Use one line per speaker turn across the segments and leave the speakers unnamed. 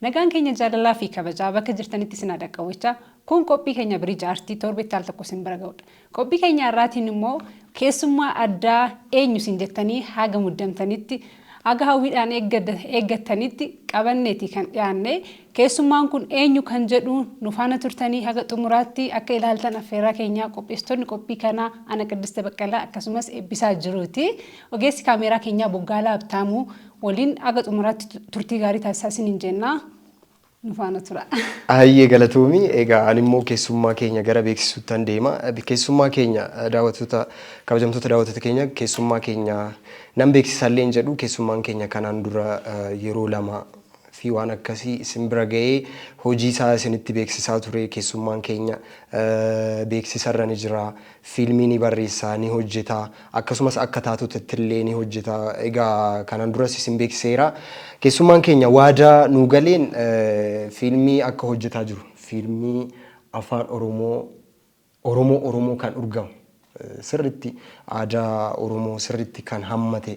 Nagaan keenya jaalalaa fi kabajaa bakka jirtanitti isin haa dhaqqabu jechaa, kun qophii keenya Bridge Aartii torbetti al tokko isin bira ga'udha. Qophii keenya har'aatiin immoo keessummaa addaa eenyu isin jettanii haga muddamtanitti, haga hawwiidhaan eeggattanitti qabanneeti kan dhiyaanne. Keessummaan kun eenyu kan jedhu nu faana turtanii haga xumuraatti akka ilaaltan affeerraa keenya. Qopheessitoonni qophii kanaa ana Qiddiste Baqqalaa akkasumas Eebbisaa Jiruuti. Ogeessi kaameeraa keenyaa Boggaalaa Habtaamuu waliin haga xumuraatti turtii gaarii taasisaa isiniin jenna. Nu faana tura. Hayyee galatoomi.
Egaa ani immoo keessummaa keenya gara beeksisuuttan deema. Keessummaa keenya daawwattoota kabajamtoota daawwattoota keenya keessummaa keenya nan beeksisa illee hin jedhu keessummaan keenya kanaan dura yeroo lama fi waan akkasii isin bira ga'ee hojii isaa isinitti beeksisaa ture keessummaan keenya beeksisa irra ni jira. Fiilmii ni barreessa, ni hojjeta, akkasumas akka taatotittillee ni hojjeta. Egaa kanaan duras isin beeksiseera. Keessummaan keenya waada nuu galeen fiilmii akka hojjetaa jiru, fiilmii Afaan Oromoo, Oromoo Oromoo kan urgamu, sirriitti aadaa Oromoo sirriitti kan hammate,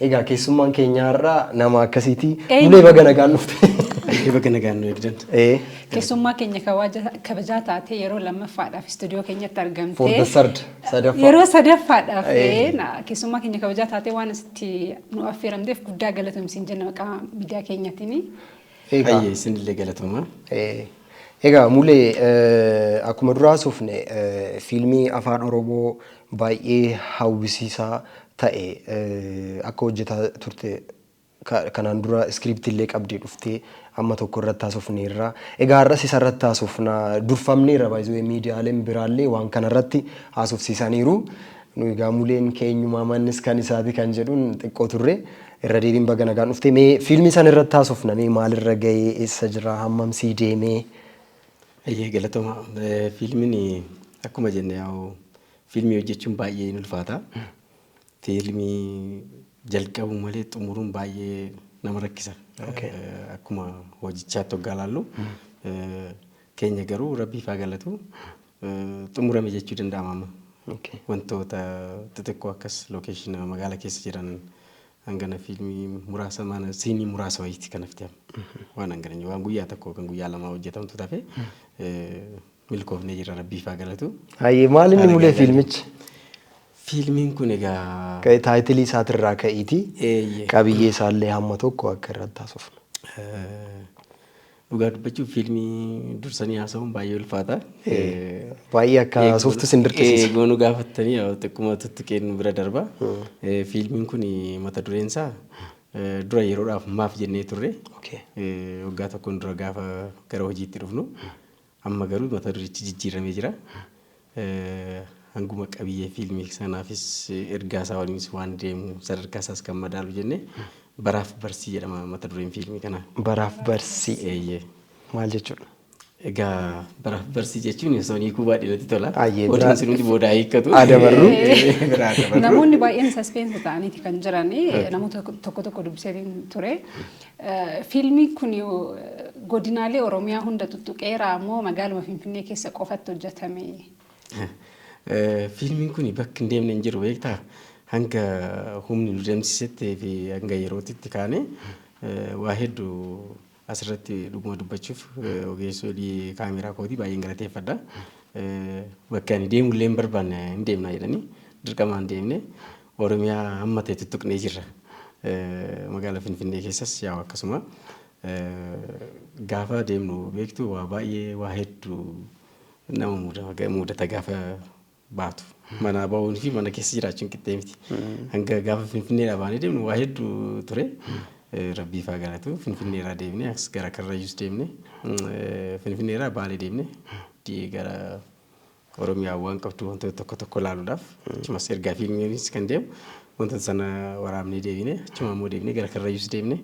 Egaa keessummaan keenya har'a nama akkasiiti. Eenyu? Bulee baga nagaan dhufte. Eeyyee baga nagaan nu
eegdan. Ee, Keessummaa
keenya kawaja- kabajaa taatee yeroo lammaffaadhaaf istuudiyoo keenyatti For the argamtee third,
sadaffaa. yeroo sadaffaadhaaf
Ee. ee, na- keessummaa keenya kabajaa taatee waan asitti nu affeeramteef guddaa galatoomsiin jenna maqaa miidiyaa keenyatiin. Egaa. Hayyee
isinillee galatoomaa. Eh, Egaa
mulee eh, akkuma duraa sufne eh, fiilmii afaan oromoo baay'ee hawwisiisaa ta'e eh, akka hojjetaa turte ka- kanaan dura iskiriiptii illee qabdee dhuftee amma tokko irratti haasofneerra. Egaa har'as isa irratti haasofna durfamneerra baay'ee miidiyaaleen biraallee waan kana irratti haasofsiisaniiru. Nu egaa muleen keenyumaa mannis kan isaati kan jedhuun xiqqoo turre. Irra deebiin baga nagaan dhufte mee fiilmii san irratti haasofna mee maalirra ga'ee eessa jira hammam sii deemee Eeyyee
galatoma. Eh, Fiilmiin akkuma jenne yaa'u fiilmii hojjechuun baay'ee hin ulfaata. Fiilmii jalqabuu malee xumuruun baay'ee nama rakkisa. Okay. Eh, Akkuma hojichaatti hoggaa laallu eh, keenya garuu rabbiif haa galatu. xumurame jechuu danda'ama amma. Okay. Wantoota xixiqqoo akkas lookeeshina magaala keessa jiran hangana fiilmii muraasa maana siinii muraasa wayiitti kan hafte amma. Waan hangana hin- waan guyyaa tokko yookaan guyyaa lamaa hojjetamtu tafe milkoofnee jirra rabbiif haa galatu. Hayyee maal inni Haala
mulee gaariidha. fiilmichi? Fiilmiin
kun egaa Ka'e taayitilii isaatirraa
ka'iitii Eeyyee. qabiyyee isaallee hamma tokko akka irratti haasofnu. eh, Dhugaa
dubbachuuf fiilmii dursanii haasa'uun baay'ee ulfaata. Baay'ee
akka haasoftu sin dirqisiisa. Eegoo nu gaafattanii
xiqquma tuttuqeen nu bira darba. Fiilmiin kun mata dureen isaa dura yeroodhaaf maaf jennee turre. Waggaa tokkoon dura gaafa gara hojiitti dhufnu. Amma garuu mata durichi jijjiirramee jira. Hanguma qabiyyee fiilmii sanaafis ergaa isaa waliinis waan deemu sadarkaa isaas kan madaalu jennee Baraaf Barsii jedhama mata dureen fiilmii kanaa. Baraaf Barsii
Eeyyee. maal jechuudha? Egaa
Baraaf Barsii jechuun osoo hin hiikuu baadhee natti tola. Ayyee, biraa- Odeessi hundi boodaa hiikkatu. Haa dabarru. Biraa
dabarru.
Namoonni baay'een saspeensi ta'aniiti kan jiran namoota tokko tokko dubbiseetiin ture. Fiilmiin kun godinaalee Oromiyaa hunda tuttuqeeraa moo magaaluma Finfinnee keessa qofatti hojjetame?
Fiilmiin kun bakka hin deemne
hin jiru
beektaa? Hanga humni nu deemsisetti fi hanga yerootti itti kaane waa heddu asirratti dhuguma dubbachuuf ogeessoo hojii kaameeraa kootii baay'een galateeffadha. Bakka ani deemullee hin barbaanne hin deemna jedhanii dirqamaan deemne. Oromiyaa amma ta'e tuttuqnee jirra. Magaala Finfinnee keessas yaa'u akkasuma. Gaafa deemnu beektu waa baay'ee waa heddu nama muudama- muudata gaafa baatu. Manaa ba'uun fi mana keessa jiraachuun qixxee miti. Hanga gaafa Finfinneedhaa baanee deemnu waa heddu ture. Rabbiif haa galatu. Finfinneerraa deemnee as gara Karrayyuus deemne. Finfinneerraa Baalee deemne. Di- Gara Oromiyaan waan qabdu wantoota tokko tokko ilaaluudhaaf achumas ergaa fiilmiinis kan deemu wantoota sana waraabnee deebine achuma ammoo deebine gara karrayyuus deebine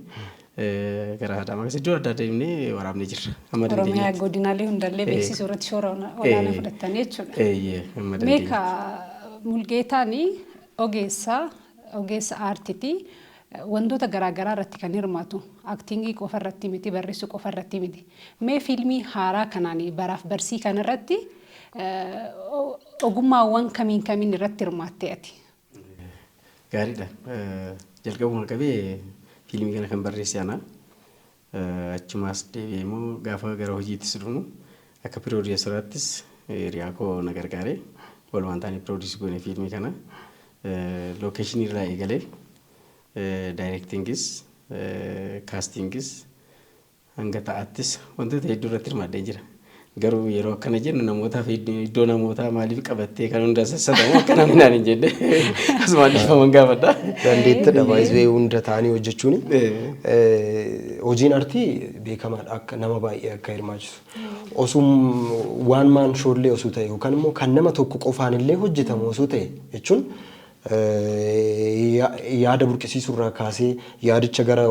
eh, gara haadhaamaa keessa iddoo adda addaa deebine waraabnee jirra. Amma Oromiyaa dandeenyetti. godinaalee
hundallee Eh. beeksisuu irratti shoora ona- olaanaa Eh. fudhattan jechuudha. Eeyyee amma Meeqa dandeenyetti. Mulgeetaan ogeessa ogeessa aartiti. Wantoota garaa garaa irratti kan hirmaatu. Acting qofa irratti miti, barreessuu qofa irratti miti. Mee fiilmii haaraa kanaan baraaf barsii kana irratti ogummaawwan kamiin kamiin irratti hirmaattee ati?
Gaariidha. Jalqabumaa qabee fiilmii kana kan barreesse ana. Achumaas deebi'ee immoo gaafa gara hojiittis dhufnu akka piroodiyuusaraattis hiriyaa koo na gargaare. Walumaan taanee piroodiyuusii goone fiilmii kana. Lookeeshinii irraa eegalee daayirektiingis kaastiingis hanga ta'aattis wantoota hedduu irratti hirmaadheen jira. Garuu yeroo akkana jennu namootaaf iddoo namootaa maaliif qabattee kan hunda sassatamu akka namni naan hin jenne asumaan dhiifaman gaafadha. Dandeettidha baay'ee
hunda ta'anii hojjechuun. Hojiin artii beekamaadha akka nama baay'ee akka hirmaachisu. Osum waan maan shoollee osoo ta'e yookaan immoo kan nama tokko qofaan illee hojjetamu osoo ta'e jechuun yaada burqisiisuu irraa kaasee, yaadicha gara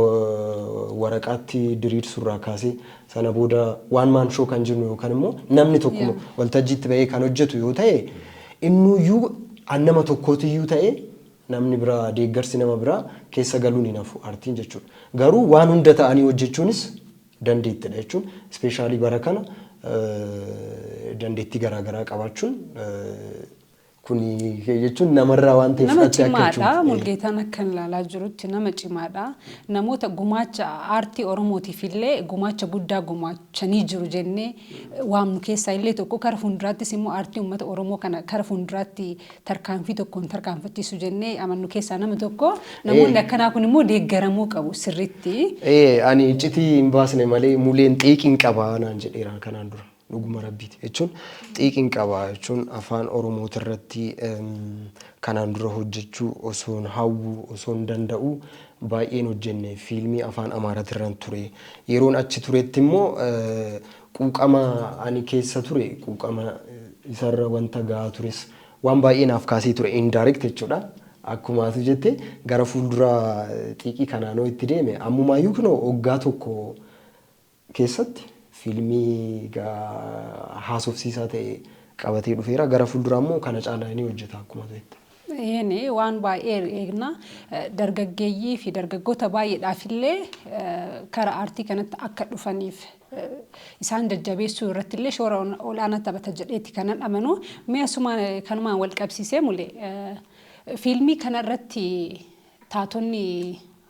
waraqaatti diriirsuu irraa kaasee, sana booda one man show kan jennu yookaan immoo namni tokkuma Yeah. waltajjiitti ba'ee kan hojjetu yoo ta'e innuyyuu an nama tokkootiyyuu ta'e namni biraa deeggarsi nama biraa keessa galuun hin hafu artiin jechuudha. Garuu waan hunda ta'anii hojjechuunis dandeettidha jechuun ispeeshaalii bara kana eh, dandeettii garaa garaa qabaachuun eh, Kuni jechuun namarraa waan ta'e Nama fudhattee akka cimaadha. jechuuti.
Mulgeetaan akkan ilaalaa jirutti nama cimaadha. Namoota gumaacha aartii Oromootiif illee gumaacha guddaa gumaachanii jiru jennee waamnu keessaa illee tokko kara fuulduraattis immoo aartii uummata Oromoo kana kara fuulduraatti tarkaanfii tokkoon tarkaanfachiisu jennee amannu keessaa nama tokko. Namoonni akkanaa kun immoo deeggaramuu qabu sirriitti. Ee ani iccitii
hin baasne malee muleen xiiqiin qaba naan jedheera kanaan dura. Dhuguma Rabbiiti jechuun xiiqiin qaba jechuun afaan Oromootirratti kanaan dura hojjechuu osoon hawwu, osoon danda'u baay'een hojjenne. Fiilmii afaan Amaaratirran ture. Yeroon achi turettimmoo quuqama ani keessa ture quuqama isarra wanta gahaa tures waan baay'ee naaf kaasee ture indirect jechuudha. Akkuma ati jette gara fuulduraa xiiqii kanaanoo itti deeme ammumaayyuu kunoo waggaa tokko keessatti fiilmii haasofsiisaa ta'e qabatee dhufeera. Gara fuulduraa immoo kana caalaa ni hojjeta akkuma ati jette. Eeyyeen waan
baay'ee eegna. Dargaggeeyyii fi dargaggoota baay'eedhaaf illee kara aartii kanatti akka dhufaniif isaan jajjabeessuu irratti illee shoora olaanaa taphata jedheeti kanan amanu. Mee asuma kanumaan wal qabsiisee mule fiilmii kana irratti taatonni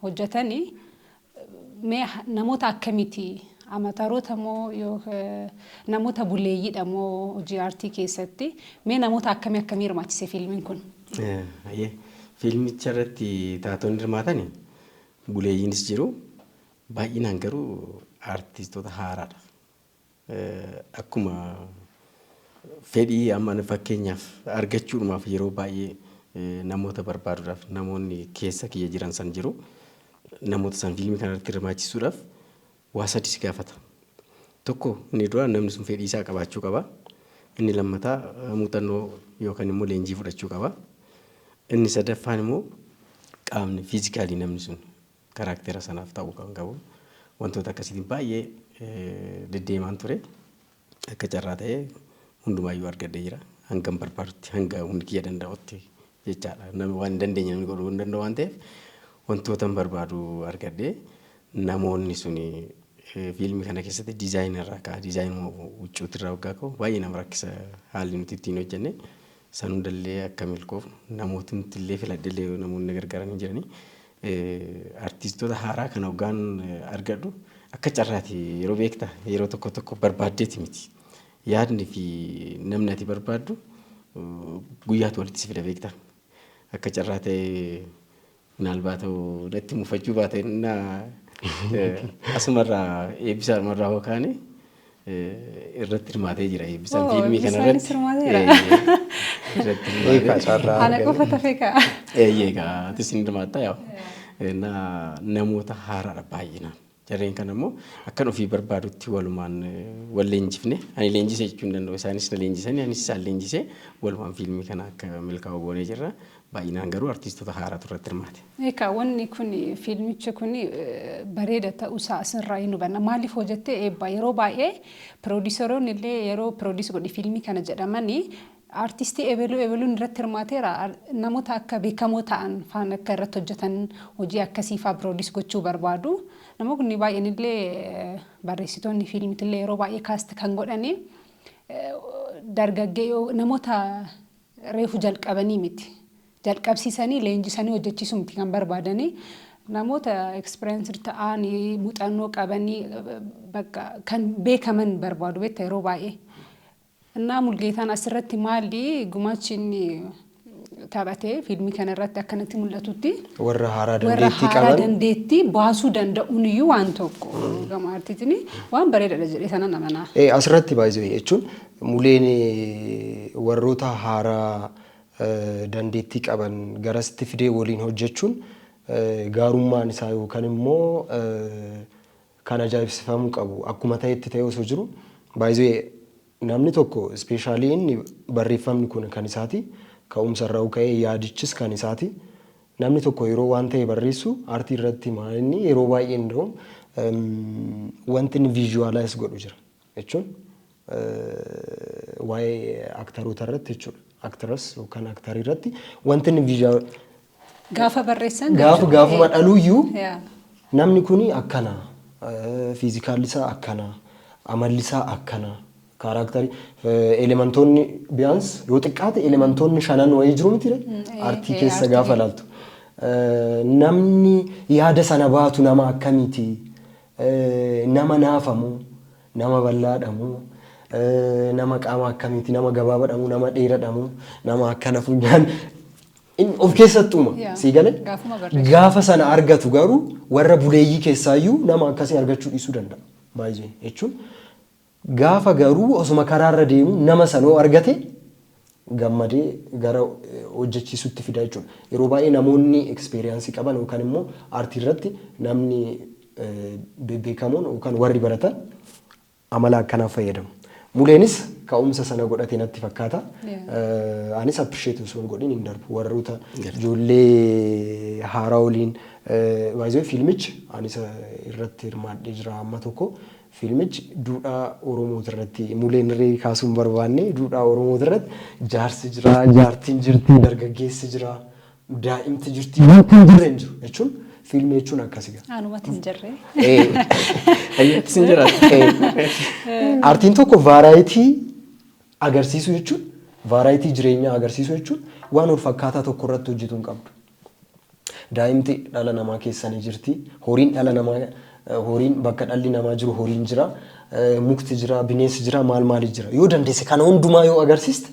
hojjetanii Mee namoota akkamiti? Amataroota moo namoota buleeyyiidha moo hojii aartii keessatti? Mee namoota akkamii akkamii hirmaachise fiilmiin kun? Hayyee.
Fiilmicha irratti taatonni hirmaatan buleeyyiinis jiru. Baay'inaan garuu aartistoota haaraadha. Akkuma fedhii amma fakkeenyaaf argachuudhumaaf yeroo baay'ee namoota barbaaduudhaaf namoonni keessa kiyya jiran san jiru. Namoota san fiilmii kana irratti hirmaachisuudhaaf waa sadi si gaafata. Tokko inni duraa namni sun fedhii isaa qabaachuu qaba. Inni lammataa muuxannoo yookaan immoo leenjii fudhachuu qaba. Inni sadaffaan immoo qaamni fiizikaalii namni sun Karaaktera sanaaf ta'uu kan qabu wantoota akkasiitiin baay'ee deddeemaan ture. Akka carraa ta'ee hundumaayyuu argadhee jira. Hangan barbaadutti hanga humni kiyya danda'utti jechaadha. Namni waan hin dandeenye namni godhuu hin danda'u waan ta'eef wantootan barbaadu argadhee namoonni suni fiilmii kana keessatti diizaayina irraa ka'a. Diizaayinuma huccuuti irraa waggaa ka'u baay'ee nama rakkisa haalli nuti ittiin hojjenne. San hundallee akka milkoofnu namootni illee filadhellee namoonni na gargaaran hin jirani. Artistoota haaraa kana hoggaan argadhu akka carraati yeroo beektaa yeroo tokko tokko barbaaddeeti miti. Yaadni fi namni ati barbaaddu guyyaatu walitti si fida beektaa. Akka carraa ta'ee minaalbaata natti mufachuu baate innaa asumarraa eebbisaadhumarraa hoo kaane irratti hirmaatee jira eebbisaan Oo, fiilmii kana Eebbisaanis irratti. hirmaateera. Eeyyee, irratti Eegaa
hirmaatee. carraa Ana qofa argate. tafe ka'a. Eeyyee egaa atis
ni hirmaatta yaa. Na namoota haaraadha baay'inaan. Jarreen kana immoo akkan ofii barbaadutti walumaan eh, wal leenjifne ani leenjise jechuu hin danda'u isaanis na leenjisanii anis isaan leenjisee walumaan fiilmii kana akka milkaa'u goonee jirra. Baay'inaan garuu artiistota haaraatu irratti hirmaate. Eekaa wanni kun
fiilmichi kun bareeda ta'uu isaa asirraa hin hubanna. Maaliif hoo jettee eebbaa yeroo baay'ee piroodiisaroonni illee yeroo piroodiis godhi fiilmii kana jedhamani artiistii ebeluu ebeluun irratti hirmaateera namoota akka beekamoo ta'an faan akka irratti hojjetan hojii akkasii faa piroodiis gochuu barbaadu. Namoonni baay'een illee barreessitoonni fiilmiti illee yeroo baay'ee kaasti kan godhani dargaggee namoota Reefu jalqabanii miti. Jalqabsiisanii leenjisanii hojjechiisuu miti kan barbaadanii. Namoota experienced ta'an, muuxannoo qaban, bakka kan beekaman barbaadu beekta yeroo baay'ee. Innaa Mulgeetaan asirratti maali gumaachi inni taphate fiilmii kana irratti akkanatti mul'atutti Warra haaraa warra
dandeettii haaraa qaban dandeettii baasuu
danda'uun iyyuu waan tokko gama artiitiin waan bareedaadha jedhee sanan amanaa. Eh, asirratti baay'isuu
jechuun Muleen warroota haaraa dandeettii qaban garasitti fidee waliin hojjechuun gaarummaan isaa yookan immoo kan ajaa'ibsifamuu qabu akkuma ta'etti ta'ee osoo jiru by the way namni tokko specially inni barreeffamni kun kan isaati ka'umsa irraa ka'ee yaadichis kan isaati namni tokko yeroo waan ta'e barreessu artii irratti maa inni yeroo baay'ee inda'uun wanti inni visualize godhu jira. jechuun waa'ee aktaroota irratti jechuudha. Actress yookaan aktarii irratti wanti inni visual Gaafa
barreessan gaafa jechuudha. gaafuma dhaluuyyuu
Yaa. namni kun akkana fiizikaalli isaa akkana amalli isaa akkana kaaraaktarii elementoonni biyaans yoo xiqqaate elementoonni shanan wayii jiru miti re? ee, artii ee, keessa artii gaafa keessa. laaltu Eh, namni yaada sana baatu nama akkamiiti nama naafa moo nama ballaadha moo nama qaama akkamiiti nama gabaabadha moo nama dheeradha moo nama akkana funyaan in of keessatti uuma Yeah. sii galee Gaafuma barreessu. gaafa sana argatu garuu warra buleeyyii keessaayyuu nama akkasii argachuu dhiisuu danda'a baay'ee jechuun Gaafa garuu osuma karaarra deemuu nama sana yoo argate gammadee gara hojjechiisuutti fida jechuudha. Yeroo baay'ee namoonni experience qaban yookaan immoo aartii irratti namni bebbeekamoon yookaan warri baratan amala akkanaa fayyadamu. Muleenis ka'umsa sana godhate natti fakkaata. Anis appreciate osoo hin godhin hin darbu. Warroota ijoollee haaraa waliin by the way fiilmichi anis irratti hirmaadhee jira amma tokko Fiilmichi duudhaa Oromootirratti muleen reerii kaasuu hin barbaanne duudhaa Oromootirratti jaarsi jira, jaartiin jirti, dargaggeessi jira, daa'imti jirti, wanti hin jirre hin jiru jechuun fiilmii jechuun akkasi gaa. Anumatti hin jirre.
Ayyatti sin jira. Aartiin tokko
vaaraayitii agarsiisuu jechuun vaaraayitii jireenyaa agarsiisuu jechuun waan wal fakkaataa tokko irratti hojjetu hin qabdu. Daa'imti dhala namaa keessa ni jirti. Horiin dhala namaa horiin bakka dhalli namaa jiru horiin jira. Mukti jira, bineensi jira, maal maali jira. Yoo dandeesse kana hundumaa yoo agarsiiste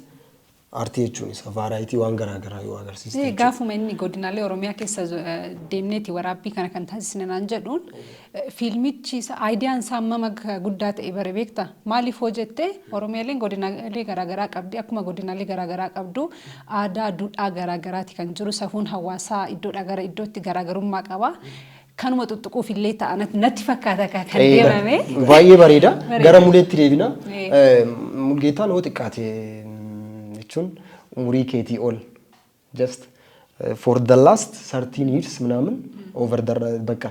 artii jechuun isa vaaraayitii waan garaa garaa yoo agarsiiste jechuudha. Gaafuma inni godinaalee
Oromiyaa keessa deemneeti waraabbii kana kan taasisne naan jedhuun Fiilmichi idea isaa hammam akka guddaa ta'e bare beekta? Maaliif hoo jette Oromiyaaleen godinaalee garaagaraa qabdi. Akkuma godinaalee garaagaraa qabdu aadaa, duudhaa garaagaraati kan jiru. Safuun hawaasaa iddoodhaa gara iddootti garaagarummaa qaba. Kanuma xuxxuquuf illee ta'a natti fakkaata kan deemame. Baay'ee bareeda.
Gara muleetti deebina. Mulgeetaan hoo xiqqaate jechuun umurii keetii ol just for the last 13 years ምናምን over the በቃ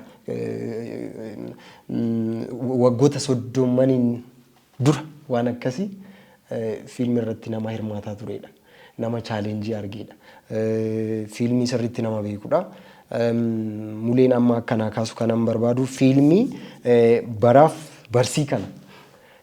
waggoota soddomaniin dura waan akkasii fiilmi irratti nama hirmaataa turedha. Nama chaalenjii argeedha. Fiilmii sirriitti nama beekudha. Muleen amma akkanaa kaasu kanan barbaadu fiilmii baraaf barsii kana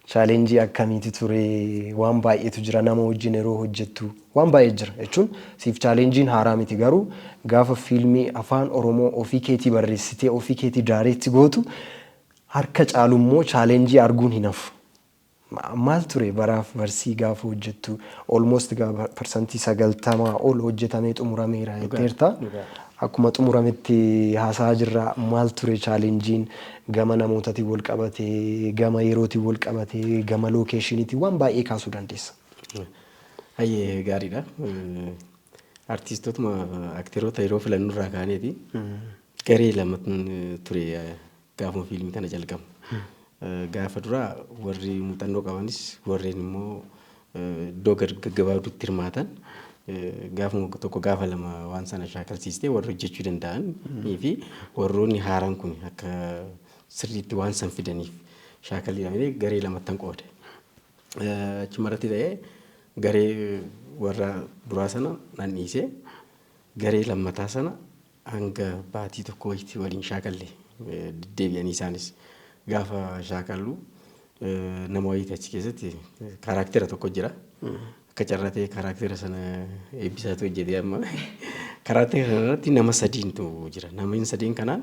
Challenge akkamiiti ture? Waan baay'eetu jira nama wajjin yeroo hojjettu waan baay'ee jira jechuun siif challenge'n haaraa miti garuu gaafa fiilmii afaan oromoo ofii keetii barreessitee ofii keetii direct gootu harka caalu immoo challenge arguun hin hafu. Maal ture baraaf barsii gaafa hojjettu almost gaafa percentii 90 ol hojjetamee xumurameera jetteerta. Akkuma xumurametti haasa'aa jirra maal ture challenge'n Gama namootatiin walqabate, gama yerootiin walqabate, gama lookeeshiniitiin waan baay'ee kaasuu dandeessa. Hayyee
gaariidha. Artiistotuma akteroota yeroo filannu irraa kaaneeti garee lama ture gaafuma fiilmii kana jalqabnu. Gaafa duraa warri muuxannoo qabanis warreen immoo iddoo gad gaggabaabduutti hirmaatan gaafuma tokko gaafa lama waan sana shaakalsiistee warri hojjechuu danda'an fi warroonni haaraan kun akka sirriitti waan san fidaniif shaakalliidha malee garee lamattan qoode. Eh, Achuma irratti ta'ee garee warra duraa sana nan dhiisee garee lammataa sana Hanga baatii tokkoo wayitti waliin shaakalle. Deddeebi'anii isaanis gaafa shaakallu nama wayiiti achi keessatti kaaraaktera tokko jira. Akka carraa ta'ee kaaraaktera sana eebbisaatu hojjetee amma. Kaaraaktera kana irratti nama sadiintu jira. Namni sadiin kanaan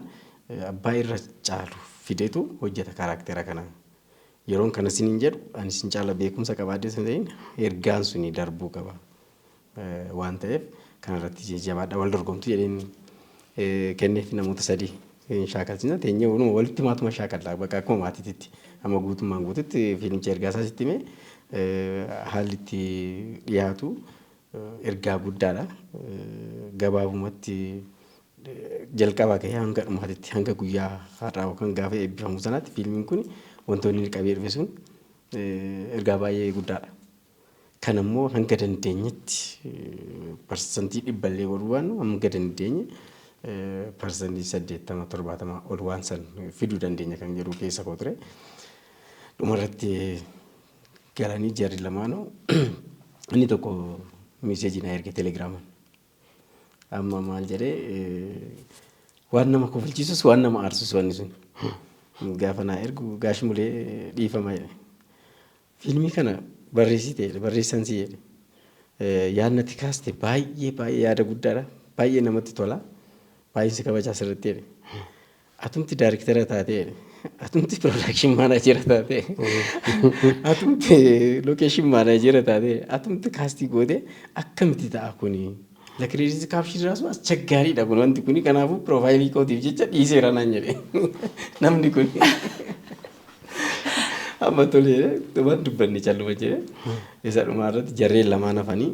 abbaa irra caalu fidetu hojjeta kaaraaktera kana. Yeroon kana siniin jedhu ani sin caala beekumsa qabaadhee sun ta'in ergaan suni darbuu qaba. waan ta'eef kana irratti jajjabaadha wal dorgomtu jedheen kenneef namoota sadii hin shaakalsina teenyee wanuma walitti maatuma shaakalla bakka akkuma maatiititti amma guutummaan guututti fiilmicha ergaa isaa sitti himee haalli itti dhiyaatu ergaa guddaadha gabaabumatti jalqabaa ka'ee hanga dhumaatitti hanga guyyaa har'aa yookaan gaafa eebbifamu sanaatti fiilmiin kun wantoonni inni qabee dhufe sun ergaa baay'ee guddaadha. Kana immoo hanga dandeenyetti parsantii dhibba illee ol waan hanga dandeenye parsantii saddeettama torbaatama ol waan san fiduu dandeenya kan jedhu keessa koo ture. Dhumarratti galanii jarri lamaanuu inni tokko miiseejii na erge telegiraaman. Amma maal jedhee waan nama kofalchiisus waan nama aarsus wanni sun gaafa naa ergu gaash mulee dhiifama jedhe. Fiilmii kana barreessite jedhe barreessan si jedhe yaadna itti kaaste baay'ee baay'ee yaada guddaadha baay'ee namatti tola baay'een si kabajaa sirriitti jedhe atumti daariktera taate jedhe atumti piroodakshin maanaajera taate atumti lookeeshin maanaajera taate atumti kaastii goote akkamitti ta'a kuni Lakreedit kaapshin raasu aschaggaaridha kun wanti kuni kanaafuu piroofaayilii kootiif jecha dhiiseera naan jedhe namni kun amma tolee dhumaan dubbanne calluma jedhe isa dhumaa irratti jarreen lamaan hafanii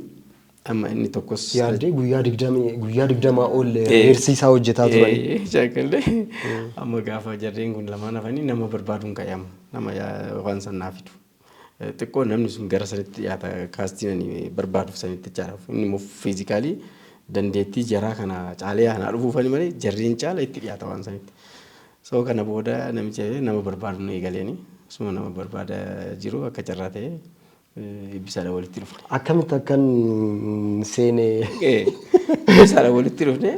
amma inni tokkos Yaaddee guyyaa digdamii
guyyaa digdamaa ol Eh. heersiisaa hojjetaa turani. Eh, shaakalle
amma gaafa jarreen kun lamaan hafanii nama barbaaduun ka'e amma nama yaa- waan san naa fidu. Xiqqoo namni sun gara sanitti dhiyaata kaastiin ani barbaaduuf sanitti jechaadha. Inni immoo fiizikaalii dandeettii jaraa kana caalee anaa dhufuufani malee jarriin caala itti dhiyaata waan sanitti. So kana booda namicha jedhee nama barbaadu na eegaleeni. Suma nama barbaada jiru akka carraa ta'ee eh, ibbisaadha walitti dhufne. Akkamitti akkan
seene Eh,
Ibbisaadha walitti dhufne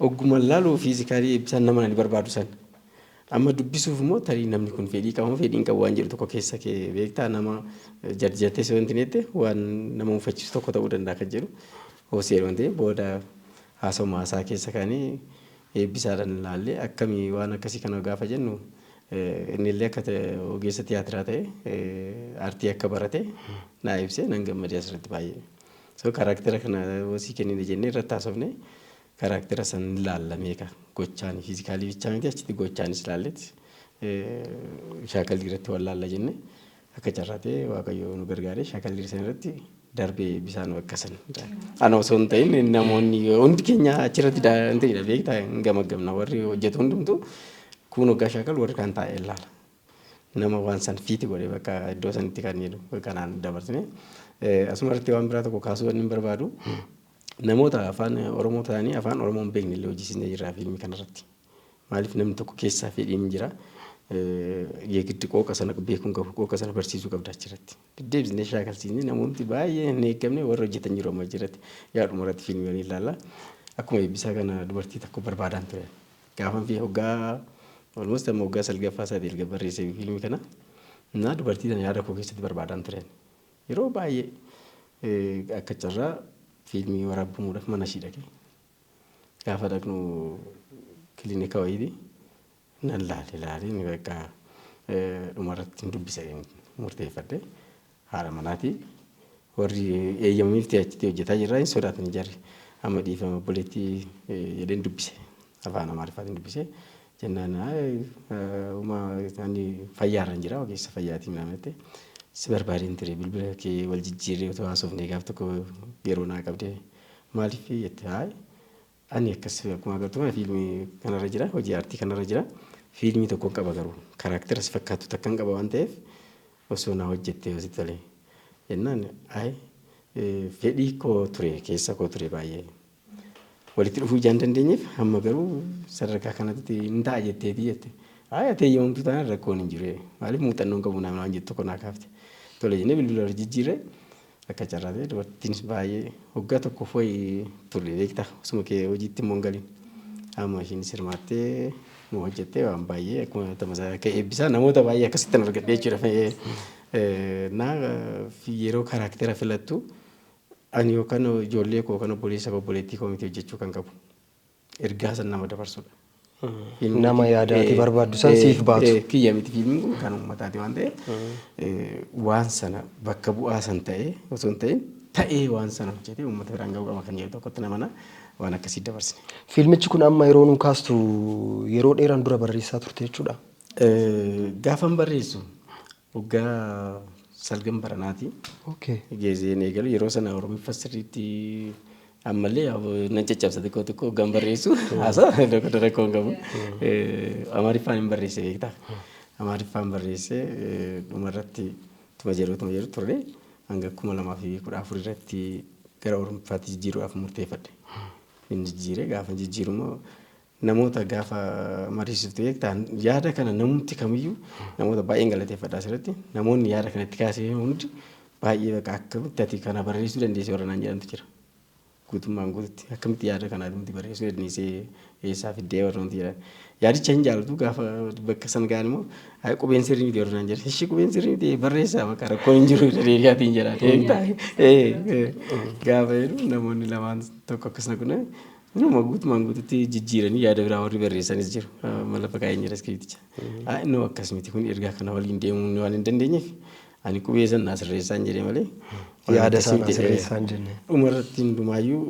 ogguma laaluu fiizikaalii ibsaan nama ani barbaadu san. Amma dubbisuuf immoo tarii namni kun fedhii qaba moo fedhii hin qabu waan jedhu tokko keessa kee beektaa nama jarjattee si wanti jette waan nama mufachiisu tokko ta'uu danda'a kan jedhu hoosee waan ta'eef booda haasawuma haasaa keessa kaanii eebbisaadhaan ilaallee akkamii waan akkasii kana gaafa jennu inni illee akka ogeessa tiyaatiraa ta'e artii akka barate naa ibsee nan gammadee asirratti baay'ee. So karaaktera kana hosii kennine jennee irratti haasofne Karaktera san ni laalla meeka gochaan physically bichaa miti achitti gochaanis laallet shaakalli irratti wal laalla jenne akka carraa ta'e waaqayyo nu gargaaree shaakalli san irratti darbee bisaan bakka san ana osoo hin ta'in namoonni hundi keenya achirratti daanda'idha beektaa hin gamaggamna warri hojjetu hundumtu kun hoggaa shaakal warri kan taa'e ilaala. Nama waan san fiiti godhe bakka iddoo sanitti kan jedhu kanaan dabarsine asuma irratti waan biraa tokko kaasuu waan hin barbaadu Namoota afaan Oromoo ta'anii afaan Oromoo hin beekne illee hojjisiisnee jirra fiilmii kanarratti. Maaliif namni tokko keessaa fedhiin hin jira. Yeegiddi qooqa sana beekuun qabu qooqa sana barsiisuu qabda achirratti. Deddeebisnee shaakalsiisnee namoonni baay'ee hin eegamne warra hojjetan jiru amma achirratti. Yaa dhumarratti fiilmii ni ilaalla. Akkuma eebbisaa kana dubartii takka barbaadaan ture. Gaafan fi hoggaa almost amma hoggaa salgaffaa isaati erga barreessee fiilmii kana. Naa dubartii sana yaada koo keessatti barbaadaan ture. Yeroo baay'ee akka carraa fiilmii waraabbamuudhaaf manashii dhaqe. Gaafa dhaqnu kilinika wayiiti. Nan laale laaleen bakka dhumarratti hin dubbisa murteeffadhe. Haadha manaati. Warri eeyyamaniif achitti hojjetaa jirraa hin sodaatanii jarri. Amma dhiifama obboleettii jedheen dubbise. Afaan Amaariffaatiin dubbise. Jennaan uma ani fayyaarran jira ogeessa fayyaatiin naan jette si barbaadeen ture bilbila kee wal jijjiirree otoo haasofnee gaaf tokko yeroo naa qabdee maaliif jette haay ani akkas akkuma agartu kana fiilmii kanarra jira hojii aartii kanarra jira fiilmii tokkon qaba garuu karaaktera si fakkaattu takkan qaba waan ta'eef osoo naa hojjettee yoo si tole jennaan haay fedhii koo ture keessa koo ture baay'ee Walitti dhufuu ijaan hin dandeenyeef hamma garuu sadarkaa kanatti hin ta'a jetteetii jette. Ayi ati eeyyamamtuu taanaan rakkoon hin jiru. Maaliif muuxannoon qabu naannoo waan jettu kun kaafte. Tole jennee bilbila wal jijjiirre akka carraa ta'e dubartittiinis baay'ee waggaa tokkoof wayii turre beekta osuma kee hojiitti immoo hin galin. Amma ishiinis hirmaattee nu hojjettee waan baay'ee akkuma tamasaa akka eebbisaa namoota baay'ee akkasittan argadhee jechuudha. Naa yeroo karaaktera filattu Ani yookaan ijoollee koo yookaan obboleessa koo obboleettii koo miti hojjechuu kan qabu. Ergaa san nama dabarsudha. Fiilmii Nama
kiyya- yaada ati eh, barbaaddu san eh, siif baatu. eh, Kiyya miti fiilmiin kun
kan uummataati waan ta'eef eh, waan sana bakka bu'aa san ta'ee osoo hin ta'in ta'ee waan sana hojjetee uummata biraan ga'uu qaba kan jedhu tokkotti namana waan akkasii dabarsine. Fiilmichi kun amma
yeroo nuu kaastu yeroo dheeraan dura barreessaa turte jechuudha. Eh,
Gaafan barreessu Waggaa salgan baranaati. Okay. Geesseen eegalu yeroo sana oromiffa sirriitti ammallee yaa- nan caccabsa xiqqoo xiqqoo hoggaan barreessu haasaa tokko tokko rakkoo hin qabu. Eh, Amaariffaan hin barreesse beektaa. Amaariffaan barreesse eh, dhumarratti tuma jedhu tuma jedhu turre hanga kuma lamaa fi kudha afur irratti gara oromiffaatti jijjiiruudhaaf murteeffadhe. Hin jijjiire gaafa jijjiiru immoo namoota gaafa mariisiftu beektaan yaada kana namumti kamiyyuu namoota baay'een galateeffadha asirratti namoonni yaada kana itti kaasee hundi baay'ee bakka akkamitti ati kana barreessuu dandeessee warra naan jedhantu jira. Guutummaan guututti akkamitti yaada kana atumti barreessuu dandeessee eessaa fiddee warra nuti jedhan. Yaadicha hin jaalatu gaafa bakka san ga'an immoo "Ay, qubeen sirrii miti warra naan jedhan. Ishii qubeen sirrii miti barreessaa bakka rakkoon hin jiru jedhee gaatiin jedhan. Eegtaa? Ee, ee. Gaafa jedhu namoonni lamaan tokko akkas na godhan Inuma guutumaan guututti jijjiiranii yaada biraa warri barreessanis jiru. Mala fakaayeen jira iskiriipticha. Innoo akkas miti kun ergaa kana waliin deemuun waan hin dandeenyeef ani qubee san naa sirreessaan jedhe malee. Yaada isaa naa
sirreessaan jenne. Dhumarratti hundumaayyuu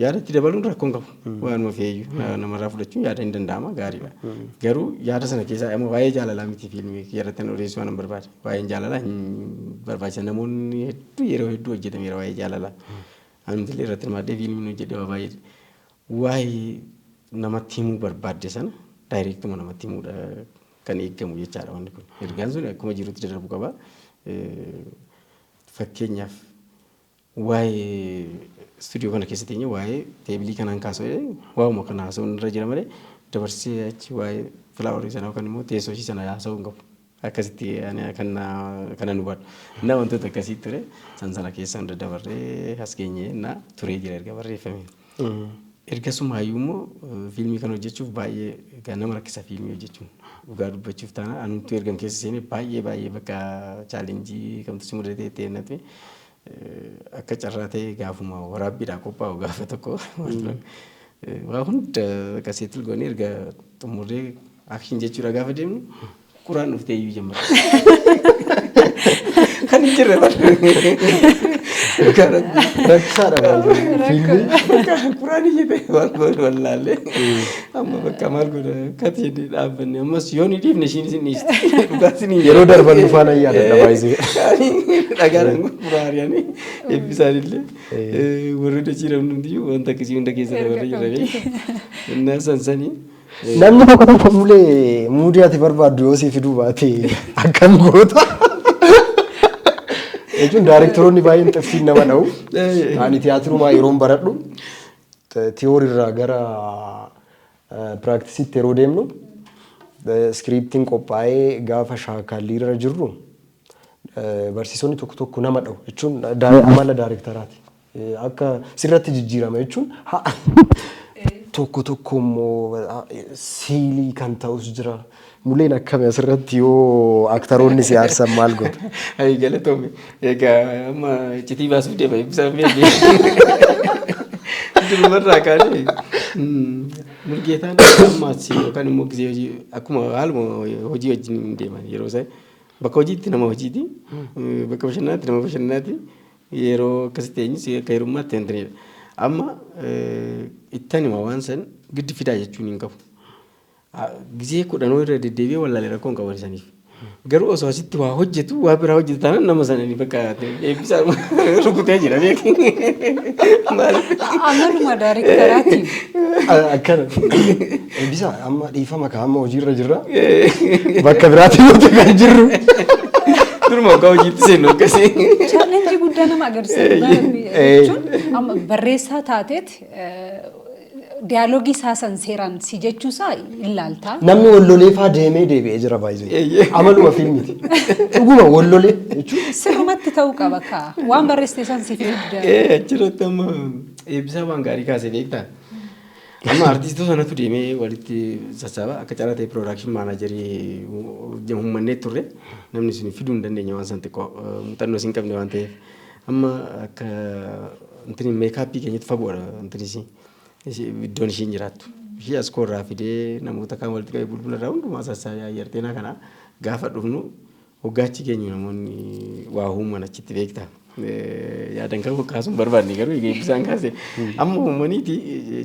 yaadatti dabaluun rakkoon qabu. Waanuma feeyyuu namarraa fudhachuun yaada hin danda'ama gaariidha. Garuu yaada sana keessaa amma waa'ee jaalalaa miti fiilmii irratti kan odeessuu waan hin barbaade. Waa'een jaalalaa hin barbaachisa namoonni hedduu yeroo hedduu hojjetameera waa'ee jaalalaa. Anillee irratti hirmaadhee fiilmiin hojjedhe waa baay'ee waa'ee namatti himuu barbaadde sana daayireektuma namatti himuudha kan eegamu jechaadha wanni kun. Ergaan sun akkuma jirutti darbu qaba. Fakkeenyaaf waa'ee istuudiyoo kana keessa teenye waa'ee teebilii kanaan kaasa'ee waa'uma kana haasa'uun irra jira malee dabarsee achi waa'ee filaaworii sana yookaan immoo teessoo ishii sana haasa'uu hin qabu. Akkasitti ani kan kanan hubadhu. Innaa wantoota akkasii ture san sana keessa hunda dabarree as geenye innaa turee jira erga barreeffame. Ergasuma hayyuu immoo fiilmii kan hojjechuuf baay'ee egaa nama rakkisa fiilmii hojjechuun. Dhugaa dubbachuuf taana anumtuu ergan keessa seenee baay'ee baay'ee bakka chaalenjii kamtu si mudatee ta'e natti Akka carraa ta'ee gaafuma waraabbiidhaaf qophaa'u gaafa tokko waa hunda bakka settle goonee erga xumurree action jechuudha gaafa deemnu quraan dhuftee iyyuu jammata. Kan hin jirre bara. Dhugaa rabbii.
Rakkisaadha baay'ee. Fiilmii.
Quraan iyyite waan wallaallee. Amma bakka maal godha katiin dhaabbanne ammas yoo ni dhiifne ishiin isin dhiiste dhugaatiin hin Yeroo darban dhufaa nan
yaadadha baay'isee. Dhagaadhaan
gurguraa ari'anii eebbisaan illee warri dachii namni hundiyyuu wanta akkasii hunda keessa dabarree jiranii innaa sansanii Namni tokko
tokko mulee muudii ati barbaaddu yoo siif fiduu baate akkam goota. Jechuun daarektaroonni baay'een xiffiin nama dha'u. Ani tiyaatirumaa yeroon baradhu Theory irraa gara practice'tti yeroo deemnu script'n qophaa'ee gaafa shaakallii irra jirru barsiisonni tokko tokko nama dha'u jechuun amala daarektaraati. Akka sirratti jijjiirama jechuun tokko tokko immoo siilii kan ta'us jira. Muleen akkami asirratti yoo aktaroonni si aarsan maal goota? Ayi galatoomi.
Egaa amma iccitii baasuuf deema eebbisaa beekni. Durumarraa kaanee Mulgeetaan ammaas yookaan immoo gisee hojii akkuma haaluma hojii wajjin hin deeman yeroo isaa bakka hojiitti nama hojiiti bakka bashannanaatti nama bashannanaati yeroo akkasitti eenyus akka hirummaatti hin ta'edha. Amma ittanima waan san giddi fidaa jechuun hin qabu. Gizee kudhanuu irra deddeebi'ee wallaalee rakkoo hin qaban isaniif. Garuu osoo asitti waa hojjetu waa biraa hojjetu taanaan nama sana ni bakka eebbisaa rukutee jira beeku.
Amaluma daarektaraati. Akkana.
Eebbisa amma dhiifama kaa amma hojiirra jirra. Bakka biraatti yoo ta'e kan jirru.
Duruma akka hojiitti seennu akkasii. Challenge guddaa
nama agarsiisa. Jechuun amma barreessaa taateet Dialogue isaa san seeraan si jechuu isaa hin laaltaa. Namni wallolee faa
deemee deebi'ee jira baay'ee. Eeyyee. Amaluma fiilmiti. Dhuguma wallolee jechuun Sirrumatti ta'uu qaba
kaa. Waan barreessite san siif fidda. Ee achirratti amma
eebbisaa waan gaarii kaasee beektaa. Amma artiistota sanatu deemee walitti sassaaba akka carraa ta'e piroodakshin maanaajarii humnannee turre namni isin fiduu hin dandeenye waan san xiqqoo muuxannoo isin qabne waan ta'eef. Amma akka intini meekaappii keenyatti fagoodha intini isii. Ishii iddoon ishiin jiraattu. Ishii as koo irraa fidee namoota kaan walitti qabee bulbula irraa hundumaa sassaabee ayyarteenaa kana gaafa dhufnu hoggaachi geenyu namoonni waa uuman achitti beekta. Eh, Yaadan kan kaasuun barbaadne garuu egaa eebbisaan kaase. Amma uumaniiti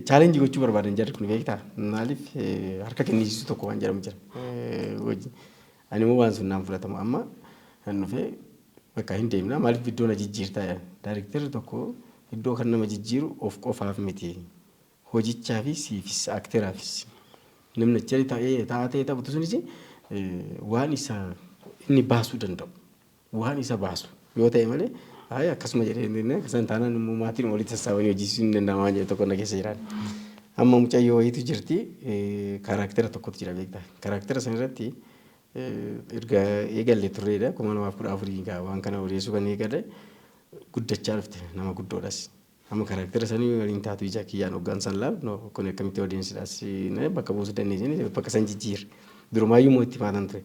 chaalenjii gochuu barbaadan jarri kun beekta. Maaliif eh, harka kennisiisuu tokko waan jedhamu jira. Eh, hojii. Animoo waan sun naan fudhatamu amma nan dhufe bakka hin deemna maaliif iddoo na jijjiirtaa jedhan. Daarektarri tokko iddoo kan nama jijjiiru of qofaaf miti hojichaafis siifis akteraafis. Namni achi taa'ee taphatu sunis waan isa inni baasuu danda'u. waan isa baasu yoo ta'e malee ayi akkasuma jedhee hin dinne akkasuma taanaan immoo maatiin walitti sassaabanii hojjechiisuu hin danda'ama waan jedhu tokko na keessa jiraan. Amma mucayyoo wayiitu jirti kaaraaktera tokkotu jira beektaa kaaraaktera sana irratti erga eegalle turreedha kuma lamaaf kudha afurii gaa waan kana odeessuu kan eegale guddachaa dhufte nama guddoodhas. Amma karaktera sanii waliin taatu ija kiyyaan hoggaan san laalu no kuni akkamitti audience dha si na bakka buusu dandeenya jedhee bakka san jijjiire. Durumaayyuu immoo itti faatan ture.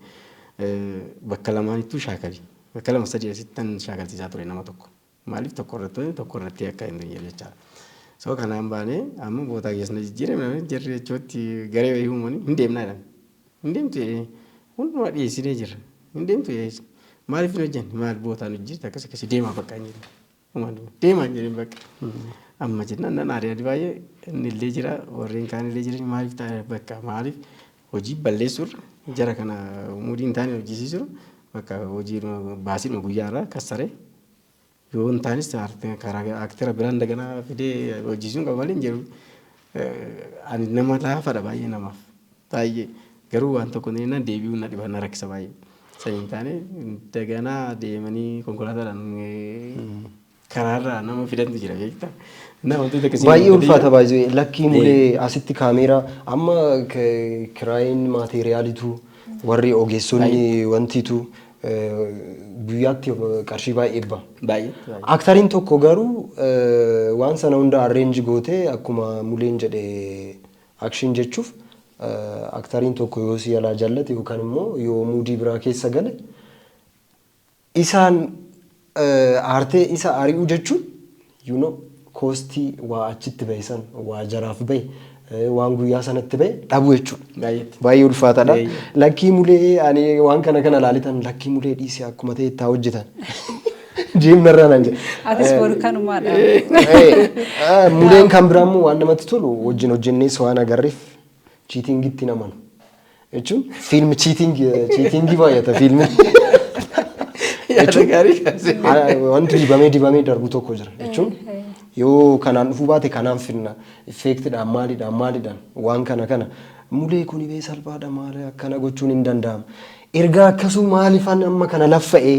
Bakka lamaanittuu shaakali. Bakka lama sadii asitti tan shaakalsiisaa ture nama tokko. Maaliif tokko irratti tokko irratti akka hin teenyeef jechaadha. So kanaan baanee amma bootaa keessa na jijjiire namni jarri jechuutti garee wayii uumanii hin deemnaa jedhan. Hin deemtu jedhee hundumaa dhiyeessinee jirra. Hin deemtu jedhee maaliif hin hojjanne maal bootaan hojjetti akkas akkasi deemaa bakka hin jedhu. Deemaa hin jedhin bakka. Amma jennaan nan aare ani baay'ee inni illee jira warreen kaan illee jiran maaliif ta'a bakka maaliif hojii balleessuurra jara kana umudii hin taane hojjisiisuu bakka hojii baasiidhuma guyyaa irraa kassaree yoo hin taanis karaa aktera biraan daganaa fidee hojjisiisuun qaba malee hin jedhu ani nama laafadha baay'ee namaaf. Baay'ee. Garuu waan tokko na jennaan deebi'uun na dhiba na rakkisa baay'ee. San hin taane daganaa deemanii konkolaataadhaan karaarraa nama fidantu jira beekta. Na wantoota akkasii Baay'ee
ulfaata baay'ee lakkii mulee asitti kaameeraa amma kiraayiin maateeriyaaliitu warri ogeessonni wantiitu guyyaatti qarshii baay'ee ba'a. Baay'ee. Aktariin tokko garuu waan sana hunda arreenji gootee akkuma muleen jedhe Action jechuf actariin tokko yoo si jalaa jallate yookan immoo yoo muudii biraa keessa gale isaan aartee isa ari'uu jechuun you know koostii waa achitti bahe san waa jaraaf bahe eh, waan guyyaa sanatti bahe dhabu jechuudha. Baay'eetti. Baay'ee ulfaataadha. Baay'ee. Lakkii mulee ani waan kana kana laalitan lakkii mulee dhiisee akkuma ta'e itti haa hojjetan. Jiim narraa naan jedhe. Atis boru kanumaadha.
Eh,
Muleen kan biraa immoo waan namatti tolu wajjin hojjennees waan agarreef chiitingitti hin amanu. Jechuun fiilmi chiitingi chiitingii baay'ata fiilmi. Yaada gaarii kaasee. Ah, Wanti dibamee dibamee darbu tokko jira jechuun yoo kanaan dhufuu baate kanaan finna effeektidhaan maalidhaan maalidhaan waan kana kana mulee kuni bee salphaadha maal akkana gochuun hin danda'amu. Ergaa akkasuu maalifan amma kana laffa'ee?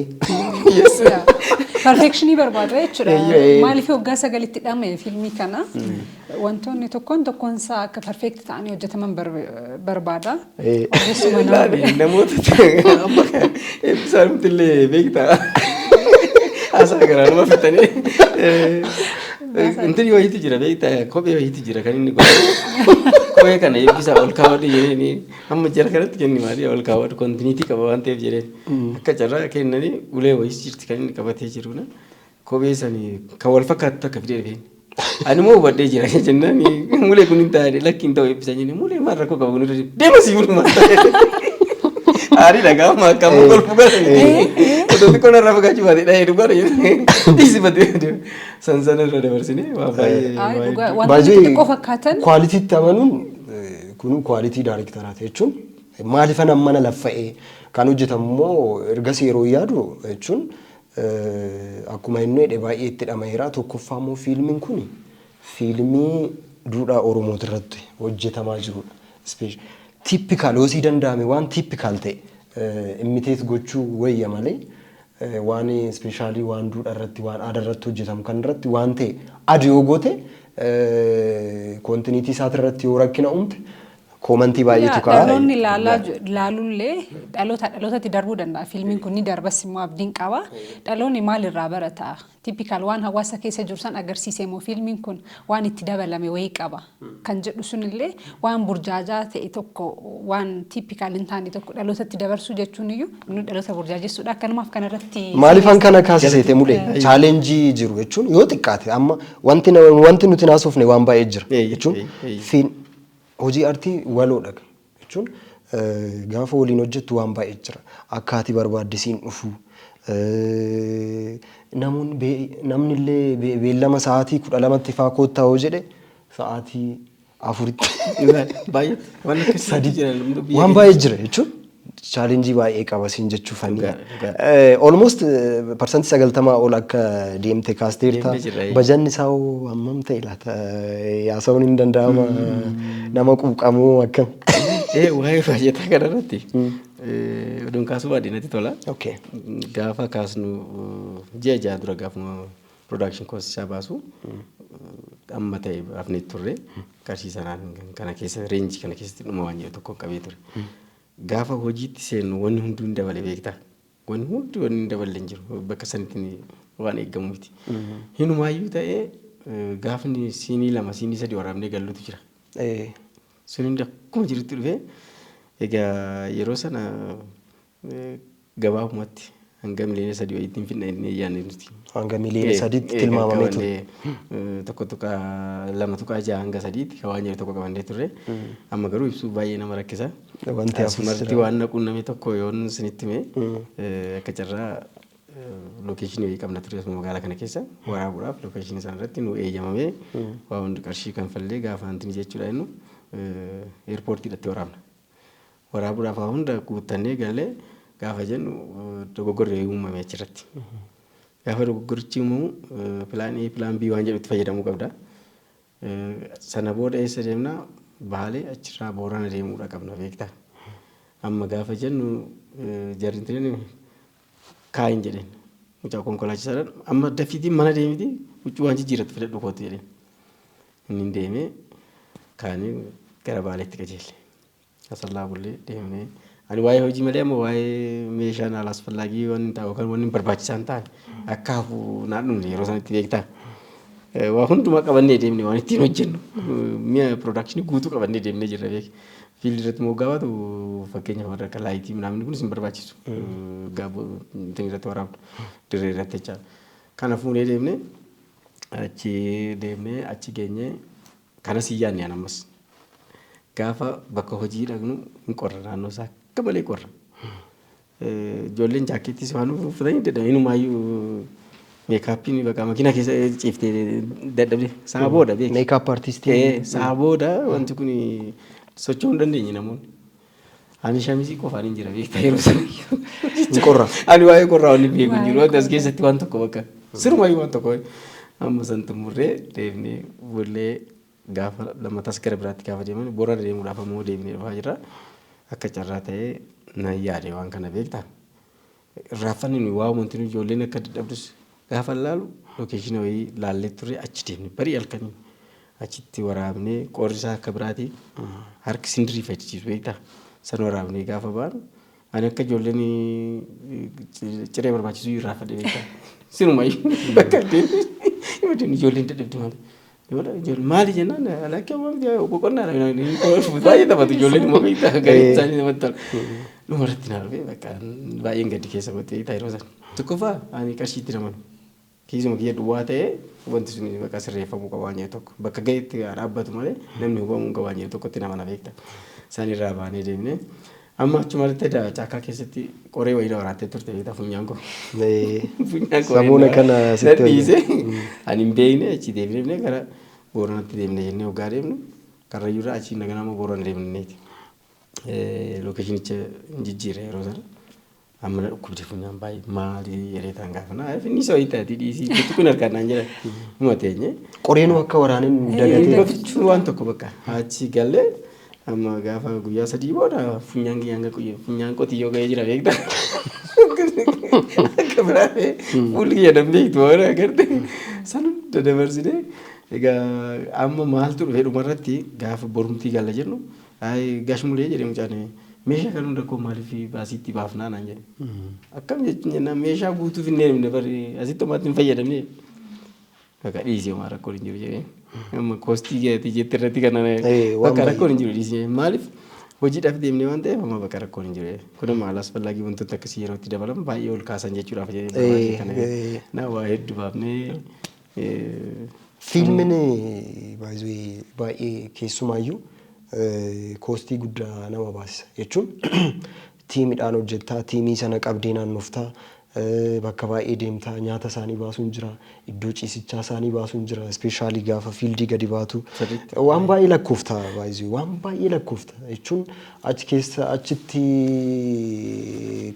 Yes, yeah.
Perfectionii barbaada jechuudha. Eeyyee. Maaliif waggaa sagalitti dhame fiilmii kana wantoonni tokkoon tokkoon isaa akka perfect ta'anii hojjetaman bar- barbaada. Eh, Ogeessuma nama. Ilaali,
namoota amma kan eebbisaa nuti illee beektaa. Haasaa garaa nama fixanii. Intin yoo hiiti jira beektaa kophee yoo hiiti jira kan inni godhu. Kophee kana eebbisaa ol kaawwadhu jedhanii. Amma jara kanatti kenni maalii ol kaawwatu kontiniitii qaba waan ta'eef jedhee akka carraa kennanii ulee wayis jirti kan inni qabatee jiru na kophee sanii kan wal fakkaatu takka fidee dhufeen. Ani moo hubadhee jira jennaan mulee kun hin taa'e lakki hin ta'u eebbisan jennee mulee maal rakkoo qabu kun irra deema sii bulu maal ta'e. Aarii dhagaa amma akka amma golfu galanii otoo xiqqoo narraa fagaachuu baate dhahee dhugaa dha jennee dhiisi batee deema. San sana irra dabarsinee waa baay'ee. Ayi, dhugaa- Wantoota xixiqqoo
fakkaatan. Kwaalitiitti amanuun Kun quality directoraati jechuun maalifan ammana laffa'ee kan hojjetamu immoo ergasii yeroo yaadu jechuun akkuma inni jedhe baay'ee itti dhama'eera. Tokkoffaa immoo fiilmiin kun fiilmii duudhaa Oromooti irratti hojjetamaa jirudha. Tippikaal yoo sii danda'ame waan tippikaal ta'e imiteet gochuu wayya malee waan specially waan duudha irratti waan aada irratti hojjetamu kan irratti waan ta'e ad yoo goote kontiniitii isaati irratti yoo rakkina uumte koomantii baay'eetu Yaa, ka'a. Dhaloonni ilaalaa ju-
ilaaluullee dhaloota dhalootatti darbuu danda'a. Fiilmiin kun ni darbas immoo abdiin qaba. Dhaloonni maalirraa barata? Typical waan hawaasa keessa jiru san agarsiise moo fiilmiin kun waan itti dabalame wayii qaba kan jedhu sunillee waan burjaajaa ta'e tokko waan typical hin taane tokko dhalootatti dabarsuu jechuun iyyuu inni dhaloota burjaajessuudha akkanumaaf kanarratti Maalifan kana kaasiseete
mule Eeyyee. chaalenjii jiru jechuun yoo xiqqaate amma wanti na- wanti nuti naasofne waan baay'ee jira Eeyyee, jechuun eeyyee. fiin hojii artii waloodha. jechuun gaafa waliin hojjettu waan baay'ee jira. Akka ati barbaadde siin dhufu. Namoonni bee- namni illee bee- beellama sa'aatii kudha lamatti faa koottaa yoo jedhe sa'aatii afuritti baay'ee waan akkasii sadii jira, biyya waan baay'ee jira jechuun challenge baay'ee qaba siin jechuufani. Dhugaa, dhugaa. Eh, Almost parsantii sagaltamaa ol akka deemte kaasteerta. Deemne jirra, eh. Bajanni isaa hoo hammam ta'e laata? Eh, Haasa'uun hin danda'ama. Nama quuqamoo akkam? Ee waa'ee
baajataa kana irratti oduun kaasuu baadhee natti tola. Okay. Gaafa kaasnu ji'a ja'a dura gaafuma production cost isaa baasu amma ta'e hafnee turre qarshii sanaan kana keessa reenjii kana keessatti dhuma waan jedhu tokko qabee ture. Gaafa hojiitti seennu wanni hunduu hin dabale beektaa. Wanni hundi wanni hin daballe hin jiru. Bakka sanitti ni- waan eegamu miti. Hinumaayyuu ta'ee eh, gaafni siinii lama siinii sadi waraabnee gallutu jira. Ee. Sun hundi akkuma jirutti dhufee egaa yeroo sana eh, Gabaabumatti hanga miliyoona sadii wayiitti hin fidna jennee hin yaadne nuti. Hanga miliyoona Ee, sadiitti
ee, kan tilmaamamee ture. qabannee, eh, tokko
tuqaa lama tuqaa jaha hanga sadiitti kan waan jedhu tokko qabannee turre. Amma garuu ibsuu baay'ee nama rakkisa. Wanti hafus Asumarratti jira. waan na quunname tokko yoon isinitti hime eh, akka carraa eh, lookeeshinii wayii qabna ture asuma magaalaa kana keessa waraabuudhaaf lookeeshinii sana irratti nu eeyyamamee waa hundi qarshii kanfallee gaafa hantini jechuudha jennu eh, eerpoortiidhatti waraabna. Waraabuudhaaf waa hunda guuttannee galle gaafa jennu dogoggorri wayii uumame achirratti. Gaafa dogoggorichi uumamu pilaan A, pilaan B waan jedhutti fayyadamuu qabda. Sana booda eessa deemna? Baalee achirraa Boorana deemuudha qabna beektaa. Amma gaafa jennu jarri hin tireen kaayin jedheen. Mucaa konkolaachisaadhaan amma dafiitii mana deemiti huccuu waan jijjiirratti fidadhu kootu jedheen. Inni deemee kaanii gara Baaleetti qajeelle. Asallaa bullee deemnee ani waa'ee hojii malee amma waa'ee meeshaan haala asfallaagii waan hin taa'u yookaan waan hin barbaachisaa hin taane akka hafu naan dhumne yeroo sanatti beektaa. Eh, Waa hundumaa qabannee deemne waan ittiin hojjennu eh, mi'a piroodakshinii guutuu qabannee deemnee jirra beek. Fiildi irratti moggaa baatu fakkeenyaaf warra akka laayitii minaamin kunis hin barbaachisu. Eh, Gaaboo ittiin irratti waraabdu dirree irratti jechaadha. Kana fuunee deemnee achi deemnee achi geenyee Kanas hin yaadne an ammas. Gaafa bakka hojii dhaqnu hin qorra naannoo isaa akka malee qorra. Ijoolleen jaakkeettis waan uffatanii dadhaban inumaayyuu meekaappiin bakka makiinaa keessa ciiftee dadhabde sa'a booda beekti. Meekaap artistii.
Sa'a booda
wanti kun socho'uu hin dandeenye namoonni. Ani shamizii qofaan hin jira beektaa yeroo sana. Hin qorra.
Ani waa'ee qorraa waliin
beeku hin jiru. Wanti as keessatti waan tokko bakka. Sirumayyuu waan tokko. Amma san xumurree deemnee bullee gaafa lammatas gara biraatti gaafa deeman borana deemuudhaaf ammoo deemnee dhufaa jirra. Akka carraa ta'ee nan yaade waan kana beektaa. irraaffanne waa'uma huntinuu ijoolleen akka dadhabdus gaafan laalu lokeeshina wayii laallee turre achi deemne barii halkanii achitti waraabnee qoorri isaa akka biraati harki sindirii fayyadachiisu beektaa san waraabnee gaafa baanu ani akka ijoolleen ciree barbaachisuu irraaffanne beektaa sinumayyuu bakka deemne ijoolleen dadhabdi malee. Maali jennaan lakkee waan miti boqonnaa dha baay'ee taphatu ijoolleen immoo beektaa gaarii isaanii namatti tola. Dhuma irratti naa dhufee bakka baay'een gaddi keessa kootti beektaa yeroo sana. Tokkoffaa ani qarshii itti namanu kiisuma kiyya duwwaa ta'ee wanti sun bakka sirreeffamuu qaba waan jedhu tokko bakka ga'etti dhaabbatu malee namni hubamuu hin qabu waan jedhu tokkotti namana beektaa. Isaan irraa baanee deemnee Amma achuma irratti da- chaakkaa keessatti qoree wayii na waraattee turte beektaa funyaan koo. Ee, Funyaan
koo Samuuna na- kana na sitti dhiise.
hojjeta. Ani hin beekne achi deemnee gara Booranatti deemne jennee hoggaa deemnu Karrayyuu irraa achi naganaa immoo Boorana deemneeti. Lookeshinicha hin jijjiirre yeroo sana. Amma na dhukkubdi funyaan baay'ee maali reetaan gaafa na finni isa wayita ati dhiisii gochi kun harkaan naan jira huma teenye. Qoreenuu akka waraaneen
nu dagatee. Gochuun waan
tokko bakka achi galee amma gaafa guyyaa sadii booda funyaan kiyyaa hanga qoyye funyaan qotiyyoo ga'ee jira beektaa. Akka biraatee fuulli kiyya nan beektu waan agarte san hunda dabarsine egaa amma maaltu dhufe dhumarratti gaafa borumtii galla jennu Ayi gash mulee jedhe mucaan meeshaa kana hunda koo maaliif baasii itti baafnaa naan jedhe. Akkam jechuun jennaan meeshaa guutuu finnee hin dhufne bari asitti homaatti hin fayyadamne. Bakka dhiisi homaa rakkoon hin jiru jedhee. Amma koostii keetii jetti irratti kan Ee, waan bakka baay'ee. rakkoon hin jiru dhiisi jedhee. Maaliif hojiidhaaf deemnee waan ta'eef amma bakka rakkoon hin jiru jedhee. Kun amma alaasfallaagii wantoota akkasii yeroo itti dabalamu baay'ee ol kaasan jechuudhaaf jedhee. Ee, baay'ee kana- ee. Na waa hedduu baafnee Fiilmin
baay'ee baay'ee keessumaayyuu koostii guddaa nama baasisa. Jechuun tiimidhaan hojjettaa, tiimii sana qabdee naannoftaa, bakka baay'ee deemtaa, nyaata isaanii baasuun jira, iddoo ciisichaa isaanii baasuun jira, ispeeshaalii gaafa fiildii gadi baatu. Sirriitti. Waan baay'ee lakkoofta baay'ee waan baay'ee lakkoofta jechuun Achi keessa achitti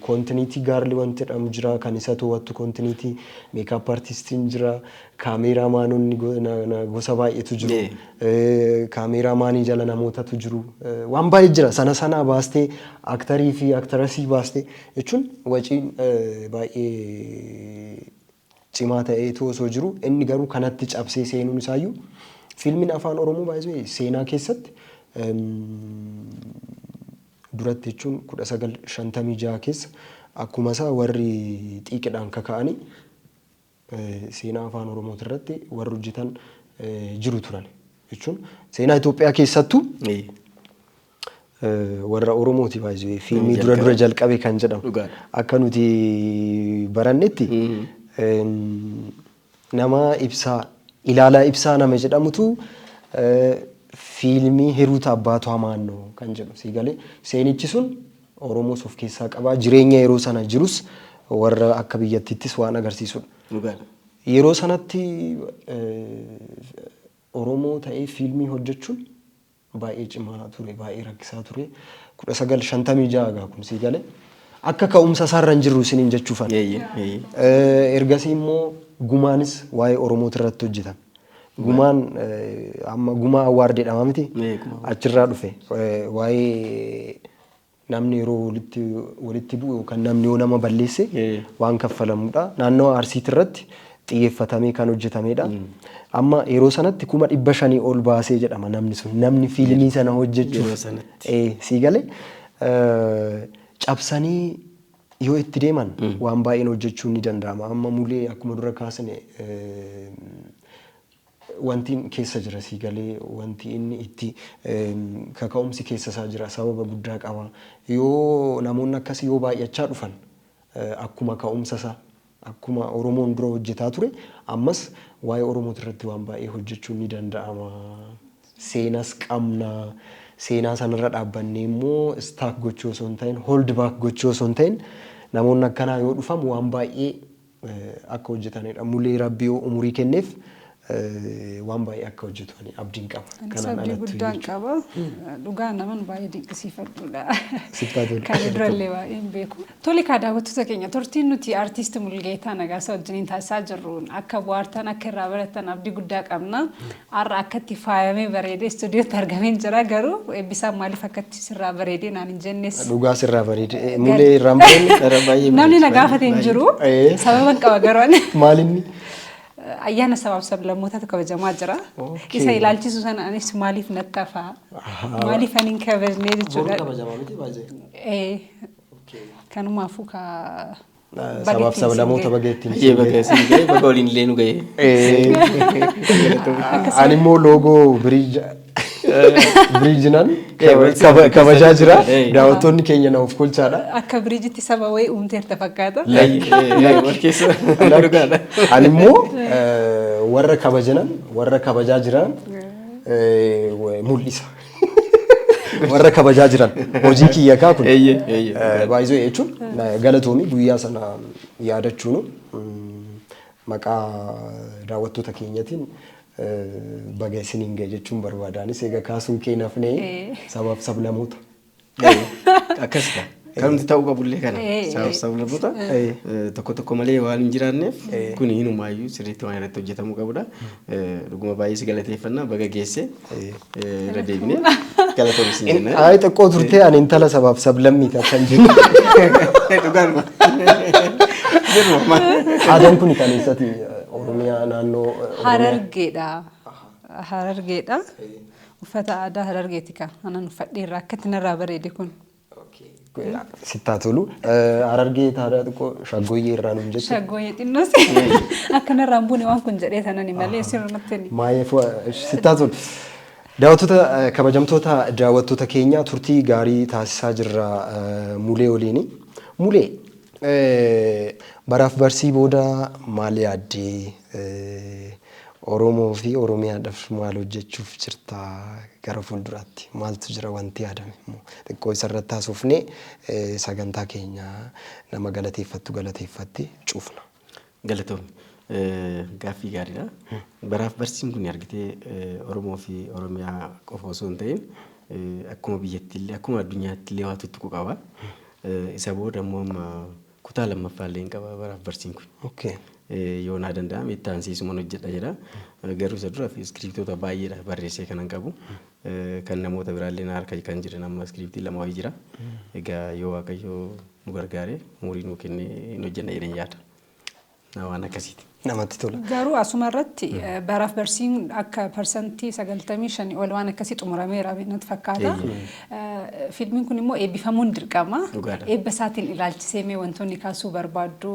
kontiniitii gaarli wanti jedhamu jira kan isa to'attu kontiniitii meekaap artistiin jira kaameeraa maanonni go- na- na- gosa baay'eetu jiru Ee. Eh, kaameeraa maanii jala namootatu jiru Eh, waan baay'ee jira sana sanaa baastee aktarii fi aktarasii baastee jechuun waciin eh, baay'ee cimaa ta'eetu osoo jiru inni garuu kanatti cabsee seenuun isaayyuu fiilmiin afaan oromoo by the way seenaa keessatti duratti jechuun 1956 keessa akkuma isaa warri xiiqidhaan kaka'anii seenaa afaan oromooti irratti warri hojjetan jiru turan jechuun seenaa Itoophiyaa keessattuu Warra Oromooti by the way. Fiilmii dura dura jalqabe kan jedhamu. Dhugaadha. Akka nuti barannetti em, nama ibsaa ilaalaa ibsaa nama jedhamutu eh, fiilmii Hiruuta Abbaatu Hamaannoo kan jedhu sii galee seenichi sun Oromoos of keessaa qabaa jireenya yeroo sana jirus warra akka biyyattiittis waan agarsiisudha. Dhugaadha. Yeroo sanatti eh, Oromoo ta'ee fiilmii hojjechuun baay'ee cimaa ture, baay'ee rakkisaa ture. 1956 gaa kun sii gale. Akka ka'umsa isaarra hin jirru isiniin jechuufan. Eeyyee, eeyyee. Eh, Ergasii immoo gumaanis waa'ee Oromooti irratti hojjetan. Gumaan eh, amma gumaa awwaard jedhama miti? Ee, gumaa. Achirraa dhufe. Eh, Waa'ee Namni yeroo walitti walitti bu'u yookaan namni yoo nama balleesse waan kaffalamudha. Naannawa Arsiiti irratti xiyyeeffatamee kan hojjetamedha. Amma yeroo sanatti kuma dhibba shanii ol baasee jedhama namni sun. Namni fiilmii sana Yeroo hojjechuuf. sanatti. Ee, sii galee eh, cabsanii yoo itti deeman waan baay'een hojjechuun ni danda'ama. Amma mulee akkuma dura kaasne eh, Wanti keessa jira sii galee wanti inni itti kaka'umsi keessa isaa jira sababa guddaa qaba. Yoo namoonni akkasii yoo baay'achaa dhufan akkuma ka'umsa isaa akkuma Oromoon dura hojjetaa ture ammas waa'ee Oromooti irratti waan baay'ee hojjechuun ni danda'ama. Seenas qabna. Seenaa sana irra dhaabbannee immoo stack gochuu osoo hin ta'in hold back gochuu osoo hin ta'in namoonni akkanaa yoo dhufan waan baay'ee akka hojjetanidha. Mulee rabbi yoo umurii kenneef waan baay'ee akka hojjetu ani abdiin qaba. Anis Kanaan abdii alattu guddaan
jechuudha. qaba. Dhugaa naman baay'ee dinqisiifadhuudha. Sittaa tolu. Kan durallee baay'ee hin beeku. Tole kaa daawwattoota keenya turtiin nuti artiist Mulgeetaa Nagaasaa wajjiniin taasisaa jirruun akka bohaartan akka irraa barattan abdii guddaa qabna. Har'a akkatti faayamee bareedee istuudiyootti argameen jira garuu Eebbisaan maaliif akkatti sirraa bareedee naan hin jennes. Dhugaa sirraa bareede.
Eh, Mulee irraan bareedni dhara baay'ee bareeda. Namni na gaafate hin
jiru. Eh. Sababan qaba garuu ani. Maalinni?
Ayyaana
sabaaf sablammootatu kabajamaa jira. Okay. Isa ilaalchisu sana anis maaliif natti hafaa? Maaliif ani hin kabajnee jechuudha. Eh, Kanumaafuu ka
Sabaaf sablamoota baga ittiin Hayyee baga isin ga'e
baga waliin illee nu ga'e.
Ani immoo loogoo biriij biriijinan kabajaa jira. Daawwattoonni keenya na of kolchaadha. Akka biriijitti saba
wayii uumteerta fakkaata. Ani
immoo warra kabajanan warra kabajaa jiran mul'isa. warra kabajaa jiran hojii kiyya kaa kun Eeyyee, eeyyee, Eh, dhugaadha. baay'isoo jechuun na- galatoomii guyyaa sana yaadachuunu mm, maqaa daawwattoota keenyatiin eh, baga isiniin ga'e jechuun barbaadaanis egaa kaasuun kee nafnee Eh. sabaaf sablamoota
Akkas ta'a. Kanumti ta'uu qabullee kana. Sablaboota tokko tokko malee waan hin jiraanneef kun hinumaayyuu sirriitti waan irratti hojjetamuu qabudha. Dhuguma baay'ee si galateeffannaa baga geesse irra deebinee galatoomsi hin jenna. Ayi xiqqoo turtee ani
intala sabaaf sablammii ta'a kan jiru.
Dhugaadhuma. Jirru
amma. Aadaan kun kan eessati Oromiyaa naannoo Oromiyaa. Harargeedha.
Harargeedha. Uffata aadaa Harargeeti kaa. Anan uffadheerra akkatti narraa bareede kun.
Sittaa tolu. Harargee taadaa xiqqoo shaggooyyee irraa nuun jette. Shaggooyyee xinnoo si.
Akka narraa hin buune waan kun jedhee sanani malee sirrumatti ni. Maayee fu'a
sittaa tolu. Daawwattoota kabajamtoota daawwattoota keenya turtii gaarii taasisaa jirra Mulee waliini. Mulee baraaf barsii booda maal yaaddee? Oromoo fi Oromiyaadhaf maal hojjechuuf jirta gara fuulduraatti? Maaltu jira wanti yaadame immoo? Xiqqoo isarratti haasofnee sagantaa keenya nama galateeffattu galateeffatte cufna. Galatoomi.
Gaaffii gaariidha. Baraaf barsiin kun argitee Oromoo fi Oromiyaa qofa osoo hin ta'in akkuma biyyattiillee akkuma addunyaattillee waa tuttuqu qaba. Isa booda immoo amma Kutaa lammaffaa illee hin qaba baraaf barsiin kun. Okay. Yoo naa danda'ame itti aansiisuman hojjedha jedha. Garuu isa dura iskiriiptoota baay'eedha barreessee kanan qabu. Kan namoota biraallee na harka kan jiran amma iskiriiptii lama wayii jira. Egaa yoo Waaqayyo nu gargaare umurii nuu kennee hin hojjenna jedheen yaada. Waan akkasiiti. Namatti tola. Garuu
asuma irratti
baraaf barsiin akka parsantii 95 ol waan akkasii xumurameera natti fakkaata. Fiilmiin kun immoo eebbifamuun dirqama. Dhugaadha. Eebba isaatiin ilaalchisee mee wantoonni kaasuu barbaaddu.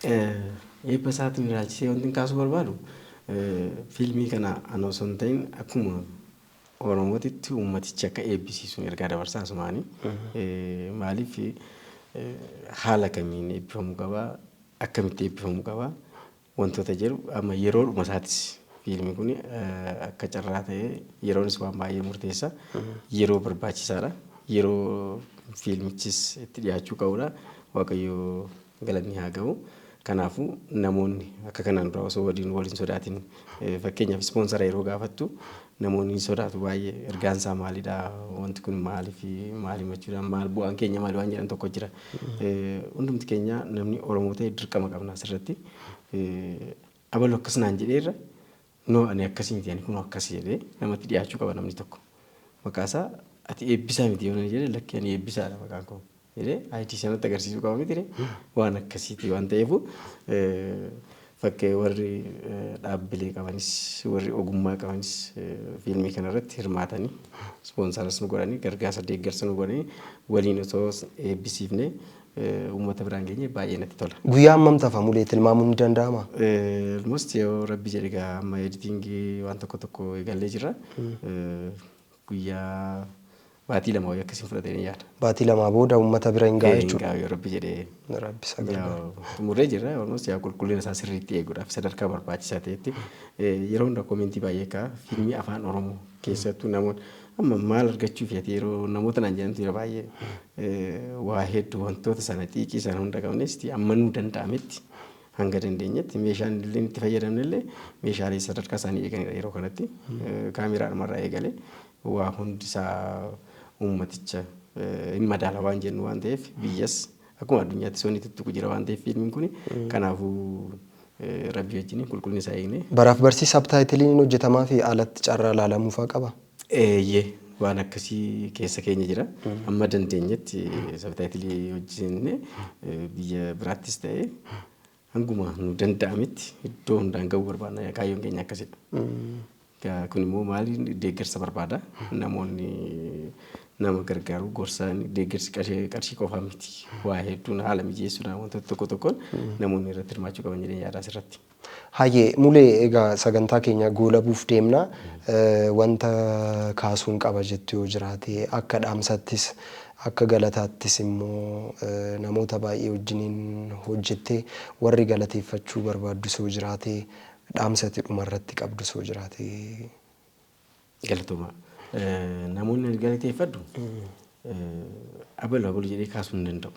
Eebba isaatiin ilaalchisee wanti kaasuu barbaadu fiilmii kana anoo osoo hin ta'in akkuma Oromootitti uummatichi akka eebbisiisuun ergaa dabarsaa asumaani. Maaliif haala kamiin eebbifamuu qabaa? akkamitti eebbifamu qaba wantoota jedhu amma yeroodhuma isaatis fiilmi kun akka carraa ta'ee yeroonis waan baay'ee murteessa yeroo barbaachisaadha yeroo fiilmichis itti dhiyaachuu qabudha waaqayyo galanni haa ga'u kanaafuu namoonni akka kanaan dura osoo waliin waliin sodaatiin fakkeenyaaf ispoonsara yeroo gaafattu Namoonni ni sodaatu baay'ee. Ergaan isaa maalidha? Wanti kun maaliif maal himachuudhaan maal bu'aan keenya maali waan jedhan tokko jira. Hundumti keenya namni Oromoo ta'e dirqama qabna asirratti. Abalu akkas naan jedheerra noo ani akkasii miti ani kunoo akkasi jedhee namatti dhiyaachuu qaba namni tokko. Maqaasaa ati eebbisaa miti yoo naan jedhe lakki ani eebbisaadha maqaan koo. jedhee ID sanatti agarsiisuu qaba mitire waan akkasiiti waan ta'eefu fakkee warri dhaabbilee qabanis warri ogummaa qabanis fiilmii kana irratti hirmaatanii ispoonsaras nu godhanii gargaarsa deeggarsa nu godhanii waliin osoo eebbisiifnee uummata biraan geenye baay'ee natti tola. Guyyaa hammam tafa mulee
tilmaamuun ni danda'ama? Almost
yoo rabbi jedhe gaa amma editingii waan tokko tokko eegallee jirra. Guyyaa Baatii lama wayii akkasiin fudhata jedheen yaada. Baatii lamaa booda uummata
bira hin ga'a Ee, hin jechuudha. gaa'u yoo rabbi jedhee.
Rabbi isa gargaara. Yaa,
xumurree jirra almost
yaa qulqullina isaa sirriitti eeguudhaaf sadarkaa barbaachisaa ta'etti eh, yeroo hunda koomentii baay'ee ka'a fiilmii afaan oromoo keessattuu namoonni amma maal argachuuf ati yeroo namoota naan jedhantu yeroo baay'ee eh, waa hedduu wantoota sana xiiqii sana hunda qabneesti amma nuu danda'ametti hanga dandeenyetti meeshaan illee itti fayyadamne illee meeshaalee sadarkaa isaanii eeganidha yeroo kanatti Eh, kaameeraa dhumarraa eegalee Waa hundi isaa uummaticha hin madaala waan jennu waan ta'eef biyyas akkuma addunyaatti sonni tuttuqu jira waan ta'eef fiilmiin kun kanaafuu rabbii wajjin qulqullina isaa eegnee. Baraaf barsii sabtaayitiliin
hojjetamaa fi alatti carraa laalamuu fa'aa qabaa? Eeyyee
waan akkasii keessa keenya jira. Amma dandeenyetti sabtaayitilii hojjenne biyya biraattis ta'ee Hanguma nu danda'ametti iddoo hundaan ga'uu barbaadna. Yaa kaayyoon keenya akkasidha. Gaa kun immoo maali deeggarsa barbaada. Namoonni nama gargaaru gorsa deeggarsi qarshii qarshii qofaa miti. Waa hedduun haala mijeessuudhaan wantoota tokko tokkoon namoonni irratti hirmaachuu qaban jedheen yaadaas irratti. Hayyee mulee
egaa sagantaa keenya goolabuuf deemna. Eh, Wanta kaasuun qaba jettu yoo jiraate akka dhaamsattis Akka galataattis immoo namoota baay'ee wajjiniin hojjettee warri galateeffachuu barbaaddu soo jiraate dhaamsa ati dhuma irratti qabdu soo jiraate?
Galatoomaa. Namoonni ani galateeffadhu abalu abalu jedhee kaasuu hin danda'u.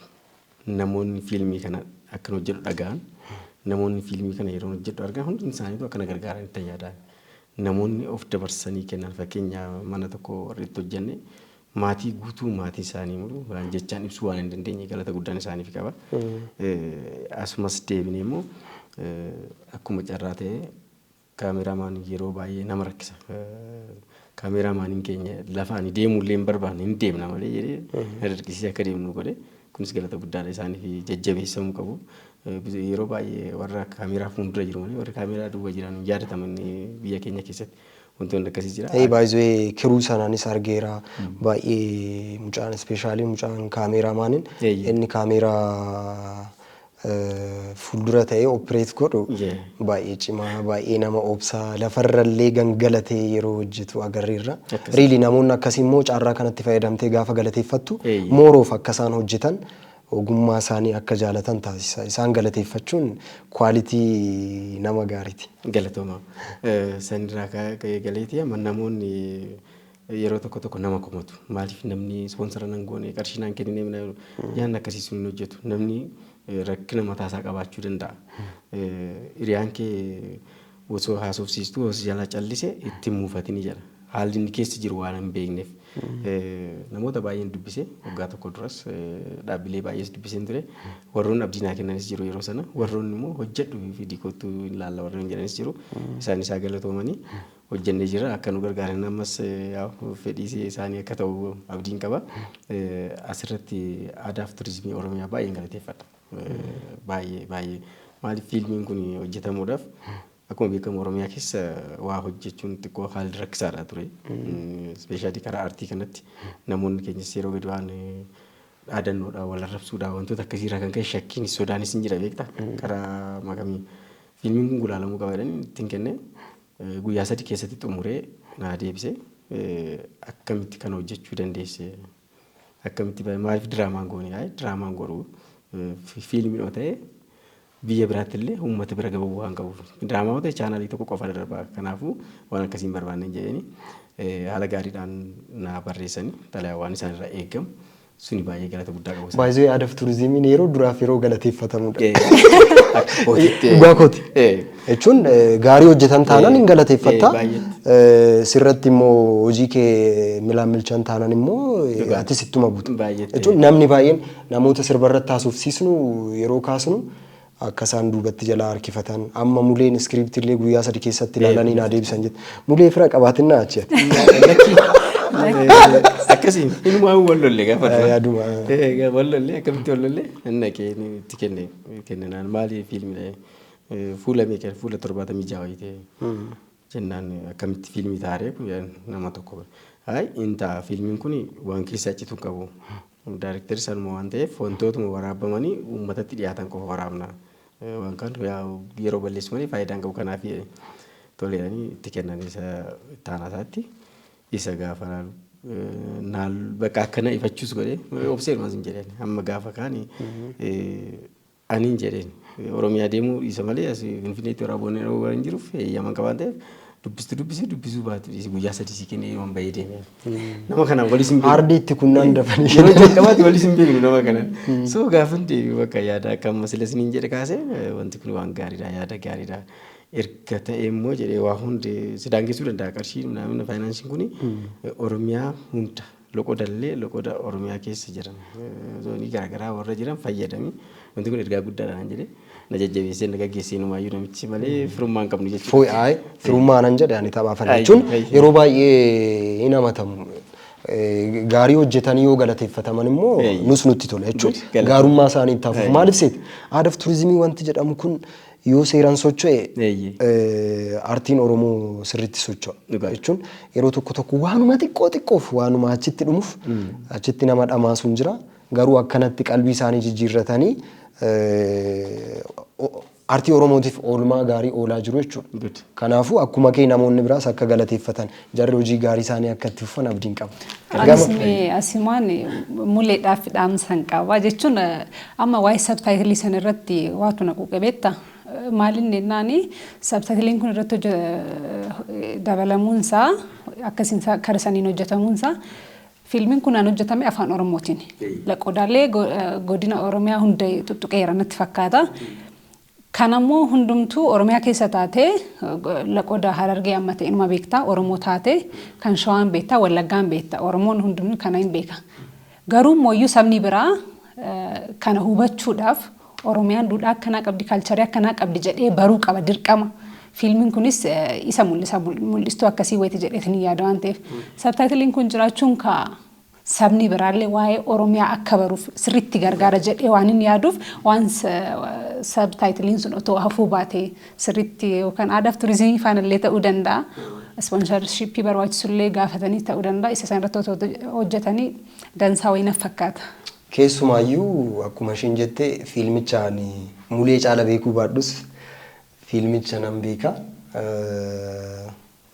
Namoonni fiilmii kana akkan hojjedhu dhaga'an, namoonni fiilmii kana yeroon hojjedhu argan hundi isaaniitu akka na gargaaran itti yaada. Namoonni of dabarsanii kennan fakkeenya mana tokko warri itti hojjenne maatii guutuu maatii isaanii mulu waan jechaan ibsuu waan hin dandeenye galata guddaan isaaniif qaba. Asumas deebinee immoo akkuma carraa ta'e kaameramaan yeroo baay'ee nama rakkisa. Kaameraamaaniin keenya lafa ani deemuu illee hin barbaanne hin deemna malee jedhee na dirqisiisee akka deemnu godhe. Kunis galata guddaadha isaaniif jajjabeessamuu qabu. Yeroo baay'ee warra kaameraa fuuldura jiru malee warri kaameraa duuba jiran hin yaadataman biyya keenya keessatti. Wantoonni akkasii jira. Ee baay'ee kiruu
sanaanis argeera baay'ee mucaan ispeeshaalii mucaan kaameeraa maanin Eeyyee. inni kaameeraa eh, fuuldura ta'ee opereet godhu Yee. baay'ee cimaa baay'ee nama obsaa lafarrallee gangalatee yeroo hojjetu agarreerra. Akkasuma. Riili namoonni akkasii immoo carraa kanatti fayyadamtee gaafa galateeffattu Eeyyee. mooroof akka isaan hojjetan Ogummaasaanii akka jaalatan taasisa. Isaan galateeffachuun quality nama gaariiti. Galatooma.
Sanirraa ka'ee galeeti amma namoonni yeroo tokko tokko nama komatu. Maaliif namni ispoonsara nan goone qarshii naan kennine mina yaanni akkasii sun hin hojjetu. Namni rakkina mataasaa qabaachuu danda'a. Hiriyaan kee Osoo haasofsiistuu yoo si jalaa callise itti hin muufatini jedha. Haalli inni keessa jiru waan hin beekneef. Namoota baay'een dubbise waggaa tokko duras dhaabbilee baay'ees dubbiseen ture. Warroonni abdii naa kennanis jiru yeroo sana. Warroonni immoo hojjedhu fidii kottu hin laalla warri hin jedhanis jiru. Isaan isaa galatoomanii hojjennee jira akka nu gargaaran ammas fedhiis isaanii akka ta'u abdiin qaba. Asirratti aadaaf turizimii Oromiyaa baay'een galateeffadha. Baay'ee baay'ee maaliif fiilmiin kun hojjetamuudhaaf akkuma beekamu Oromiyaa keessa waa hojjechuun xiqqoo haalli rakkisaadha ture. Ispeeshaalii karaa aartii kanatti namoonni keenyas yeroo gadi waan dhaadannoodha wal arrabsuudha wantoota akkasiirraa kan ka'e shakkiin sodaanis hin jira beekta karaa makamii fiilmiin kun gulaalamuu qaba jedhanii ittiin kenne guyyaa sadi keessatti xumuree naa deebise akkamitti kan hojjechuu dandeesse. Akkamitti maaliif diraamaan goone ayi diraamaan godhu fiilmiin yoo ta'e biyya biraatti illee uummata bira gahuu waan qabuuf diraamaa yoo ta'e chaanaalii tokko qofa irra darba kanaafuu waan akkasiin barbaanne jedhani haala gaariidhaan naa barreessani xalayaa waan isaan irraa eegamu suni baay'ee galata guddaa qabu. isaan. Baay'ee aadaaf turizimiin
yeroo duraaf yeroo galateeffatamudha. Eh, akka kootitti, eh. Dhugaa kooti. Eh. Jechuun gaarii hojjetan taanan hin galateeffatta. Sirratti immoo hojii kee milaan milchan taanan immoo atis ittuma buta. Jechuun namni baay'een namoota sirba irratti haasofsiisnu yeroo kaasnu akka isaan duubatti jalaa harkifatan amma muleen iskiriiptii illee guyyaa sadi keessatti ilaalanii naa deebisan jette. Mulee fira qabaatinna achi ati.
Akkasiin inumaa wal lolle gaafa dura. Yaaduma. Wal lolle akkamitti wal lolle? Inni dhaqee itti kenne kenninaan maali fiilmidha. Fuula meeqan fuula torbaatamii ja'a wayii ta'e jennaan akkamitti fiilmii taaree kun jedhan nama tokko bira. Hayi hin ta'a fiilmiin kun waan keessaa citu hin qabu. Daarektarri sanuma waan ta'eef wantootuma waraabamanii uummatatti dhiyaatan qofa waraabna. Eh, Waan kaan yaa yeroo balleessu malee faayidaa hin qabu kanaaf jedhe. Tole jedhanii itti kennan isa itti aanaa isaatti. Isa gaafa laalu eh, naal bakka akkana ifachuus godhee obsee dhumas hin jedheen. Amma gaafa kaani eh, Anin jedheen. Oromiyaa deemuu dhiisa malee as Finfinneetti warra Aboo Neroo waan jiruuf heeyyama qaba waan ta'eef dubbistu dubbisi dubbisuu baatu dhiisi guyyaa sadii si kennee yoon bahee deeme. Nama kanaan walis hin beeknu. Aardii itti kunnaan dafanii
Yeroo kennan. jalqabaatti walis hin
beeknu nama kanaan. So gaafan deebi'u bakka yaada akka amma sila isiniin jedhe kaase eh, wanti kun waan gaariidha yaada gaariidha. Erga ta'e immoo jedhee waa hundi si daangessuu danda'a qarshiin minaamin faayinaanshiin kuni eh, Oromiyaa hunda Loqoda illee loqoda Oromiyaa keessa jiran zoonii garaagaraa warra jiran fayyadamii wanti kun ergaa guddaadha naan jedhee na jajjabeessee na gaggeessee numaayyuu namichi malee firummaan qabnu jechuudha. Fooy aay firummaa nan
jedhe ani taphaa fana Ayyi, jechuun ayyi. yeroo baay'ee hin amatamu. Eh, Gaarii hojjetanii yoo galateeffataman immoo Ayyi. nus nutti tola jechuun Good, galata. gaarummaa isaanii itti hafuuf Ayyi. maaliif seete aadaaf turizimii wanti jedhamu kun Yoo seeran socho'e aartiin Oromoo sirriitti socho'a jechuun yeroo tokko tokko waanuma xiqqoo xiqqoof waanuma achitti dhumuf achitti nama dhamaasu hin jira. Garuu akkanatti qalbii isaanii jijjiirratanii aartii Oromootiif oolmaa gaarii oolaa jiru jechuudha. Kanaafuu akkuma kee namoonni biraas akka galateeffatan Jarri hojii gaarii isaanii akka itti fufan abdiin qaba. Anis Gama mee
asimaan muleedhaaf dhaamsan qaba jechuun eh, amma waa'ee sabtaayitilii san irratti waatu na quuqe beekta. Eh, Maaliin jennaani sabtaayitiliin kun irratti hojje- eh, dabalamuun isaa akkasiin isaa kara saniin hojjetamuun isaa fiilmiin kun aan hojjetame afaan oromootiin. Laqodaalee go- eh, godina oromiyaa hunda tuttuqeera natti fakkaata. Kana immoo hundumtuu Oromiyaa keessa taatee Laqoda Harargee amma ta'e inuma beekta Oromoo taatee kan Shawaan beekta Wallaggaan beekta Oromoon hundumtuu kana hin beeka. Garuu immoo sabni biraa kana hubachuudhaaf Oromiyaan duudhaa akkanaa qabdi kaalcharii akkanaa qabdi jedhee baruu qaba dirqama. Fiilmiin kunis isa mul'isa mul'istuu akkasii wayiti jedheetiin yaada waan ta'eef. Sabtaayitiliin kun jiraachuun kaa sabni biraallee waa'ee Oromiyaa akka baruuf sirriitti gargaara jedhee waanin yaaduuf waan sabtaayitiliin sun otoo hafuu baatee sirriitti yookaan aadaaf turizimii faanallee ta'uu danda'a. Ispoonsarshipii barbaachisullee gaafatanii ta'uu danda'a. Isa sana irratti otoo hojjetanii dansaa wayii naf fakkaata. Keessumaayyuu
akkuma isheen jette fiilmicha ani mulee caala beekuu baadhus fiilmicha nan beeka.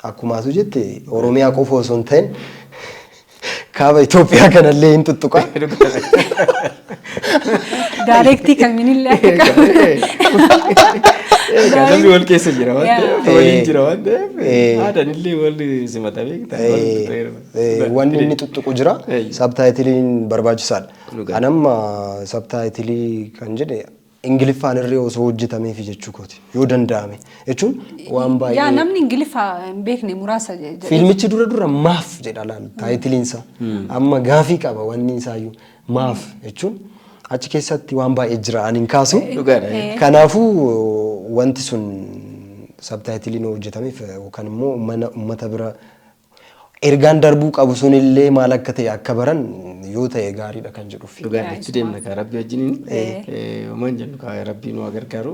Akkuma atu jette Oromiyaa qofa osoo hin ta'in kaaba Itoophiyaa kanallee hin tuttuqa.
Daayireektii kamiinillee akka
qabu. Namni wal keessa jira waan ta'eef waliin jira waan ta'eef aadaan illee wal simata beekta. Wanni inni tuttuqu
jira sabtaayitiliin barbaachisaadha. Anamma sabtaayitilii kan jedhe Ingiliffaan irree osoo hojjetameefi jechuu kooti. Yoo danda'ame. Jechuun waan Yaa baay'ee. namni ingiliffa
hin beekne muraasa je- jedhe. Fiilmichi dura dura
maaf jedha laal taayitiliin isaa. Amma gaafii qaba wanni isaayyuu maaf jechuun achi keessatti waan baay'ee jira ani hin kaasu. Dhugaadha. Eh. Kanaafuu wanti sun sabtaayitiliin hojjetameef yookaan immoo mana uummata bira Ergaan darbuu qabu sun illee maal akka ta'e akka baran yoo ta'e gaariidha kan jedhuuf. Dhugaa Yaa itti Isma. deemna kaa rabbi
wajjiniin. Eh. Homaan jennu kaa rabbii nu haa gargaaru.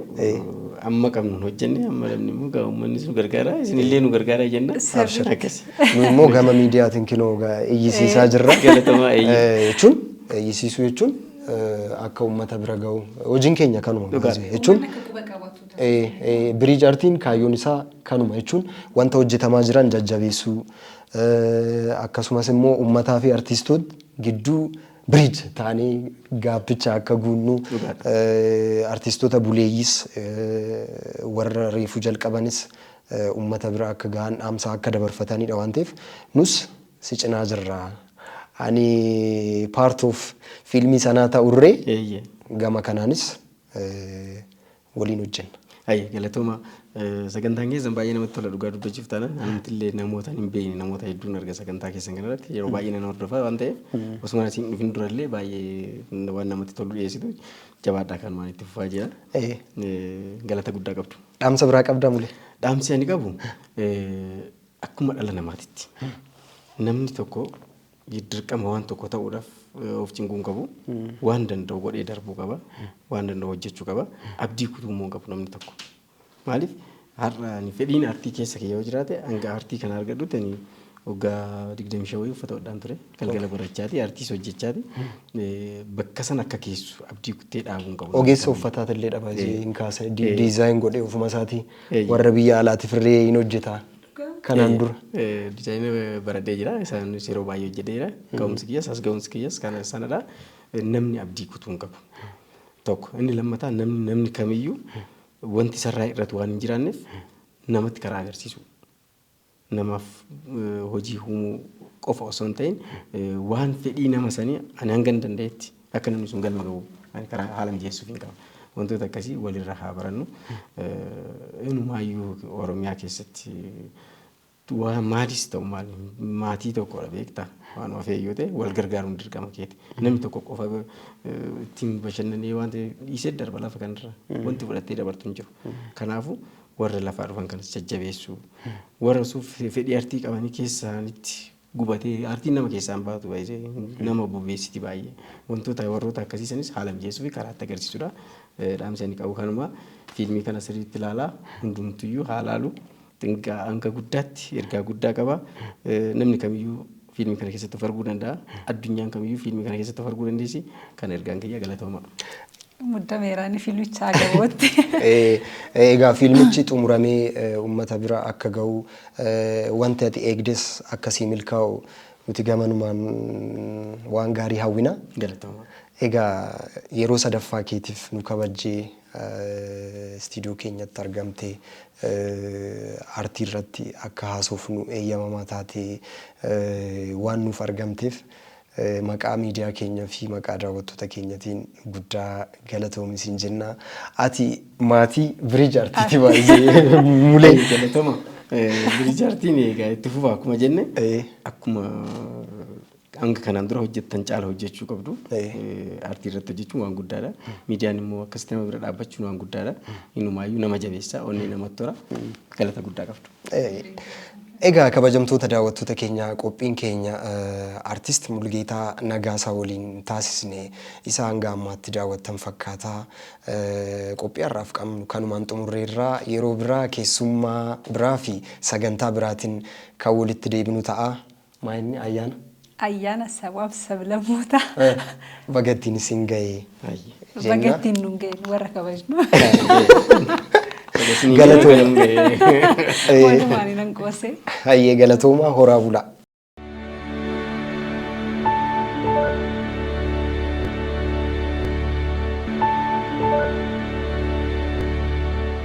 Amma qabnu hojjenne amma namni immoo gaa uummannis nu gargaara isinillee nu gargaara jenna. Sirri. Akkasi. Nu immoo gama
miidiyaatiin kinoo gaa iyyisiisaa jirra. Galatamaa eeyyee. Eh,
jechuun
iyyisiisuu jechuun eh, akka uummata bira gahu hojiin keenya kanuma Dhugaa. jechuun Uummanni akka quba qabatu. Biriij Artiin kaayyoon isaa kanuma jechuun wanta hojjetamaa jiran jajjabeessuu akkasumas immoo uummataa fi artiistoota gidduu biriij taanee gaappicha akka guunnu artiistoota buleeyyiis warra reefuu jalqabanis uummata bira akka gahan dhaamsaa akka dabarfatanidha waan ta'eef nus si cinaa jirra. Ani part of fiilmii sanaa ta'urree gama kanaanis waliin hojjenna. Haye galatooma
sagantaan keessan baay'ee namatti tola dhugaa dubbachuuf taanaan anumtillee namootaan hin beekne namoota hedduun arga sagantaa keessan kanarratti yeroo baay'ee nan hordofaa waan ta'eef osuma asiin dhufin durallee baay'ee waan namatti tolu dhiyeessitu jabaadhaa kan waan itti fufaa jira Eh, galata guddaa qabdu. Dhaamsa biraa qabdaa mule.
Dhaamsi ani qabu
eh, akkuma dhala namaatitti namni tokko dirqama waan tokko ta'uudhaaf of cinquu hin qabu. Waan danda'u godhee darbuu qaba. Waan danda'u hojjechuu qaba. Abdii kutuu immoo hin qabu namni tokko. Maaliif har'a ani fedhiin artii keessa kiyya yoo jiraate hanga artii kana argadhutti ani waggaa 25 wayii uffata hodhaan ture. Galgala barachaati artiis hojjechaati. Eh, Bakka san akka geessu abdii kuttee dhaabuu hin qabu. Ogeessa uffataati illee
dhabaa Eh. hin kaasa. Eh. Diizaayin godhee ofuma isaatii Eh. warra biyya alaatiif illee hin hojjeta. Kanaan dura. Dizaayina
baradhee jira. Isaanis yeroo baay'ee hojjedheera. Ga'umsi kiyyas as ga'umsi kiyyas kana sanadha. Namni abdii kutuu hin qabu. Tokko. Inni lammataa namni namni kamiyyuu wanti sarraa irratu waan hin jiraanneef namatti karaa agarsiisuu. Namaaf eh, hojii uumuu qofa osoo hin ta'in eh, waan fedhii nama sanii ani hangan danda'etti Akka namni sun galma gahu ani karaa haala mijeessuufiin qaba. Wantoota akkasii walirra haa barannu. Inumaayyuu Oromiyaa keessatti waa maadis ta'u maal maatii tokkodha beektaa waan ofee yoo ta'e wal gargaaruun dirqama keeti. Namni tokko qofa ittiin bashannanee waan ta'e dhiisee darba lafa kanarra wanti fudhattee dabartu hin jiru. Kanaafuu warra lafaa dhufan kanas jajjabeessuu warra suuf fedhii artii qabanii keessaanitti gubate aartiin nama keessaa hin baatu baay'ee nama bobeessiti baay'ee wantoota warroota akkasii sanis haala mijeessuu fi karaa itti agarsiisudha dhaamsi ani qabu kanuma fiilmii kana sirriitti ilaalaa hundumtuyyuu haa laalu xinqaa hanga guddaatti ergaa guddaa qaba namni kamiyyuu fiilmii kana keessatti of arguu danda'a addunyaan kamiyyuu fiilmii kana keessatti of arguu dandeessi kan ergaan kiyya galatooma. Muddameeraan
fiilmichaa gabootti.
Egaa fiilmichi xumuramee uummata bira akka ga'u Wanti ati eegdes akka sii milkaa'u nuti gamanumaan waan gaarii hawwina. Galatoomaa.
Egaa
yeroo sadaffaa keetiif nu kabajjee istiidiyoo keenyatti argamtee aartii irratti akka haasofnu eeyyamamaa taatee waan nuuf argamteef Maqaa miidiyaa keenya fi maqaa daawwattoota keenyatiin guddaa galatoomi siin jenna. Ati maatii Biriij Artiiti baay'ee mulee. Galatoma.
Biriij Artiin egaa itti fufa akkuma jenne Ee, akkuma hanga kanaan dura hojjettan caala hojjechuu qabdu. Ee. Artii irratti hojjechuun waan guddaadha. Miidiyaan immoo akkasitti nama bira dhaabbachuun waan guddaadha. Inumaayyuu nama jabeessa, onnee namatti hora. Galata guddaa qabdu. Egaa
kabajamtoota daawwattoota keenya qophiin keenya Artist Mulgeetaa Nagaasaa waliin taasisne isa hanga ammaatti daawwattan fakkaata. Qophii har'aaf qabnu kanumaan xumurreerra. Yeroo biraa keessummaa biraa fi sagantaa biraatiin kan walitti deebinu ta'a. Maa inni ayyaana? Ayyaana
sabaaf sablammootaa. Baga
ittiin isin ga'e. Baga ittiin
nun ga'e nu warra kabajnu.
Galatooma. Walumaan
nan qoose. Hayyee galatoomaa
horaa bulaa.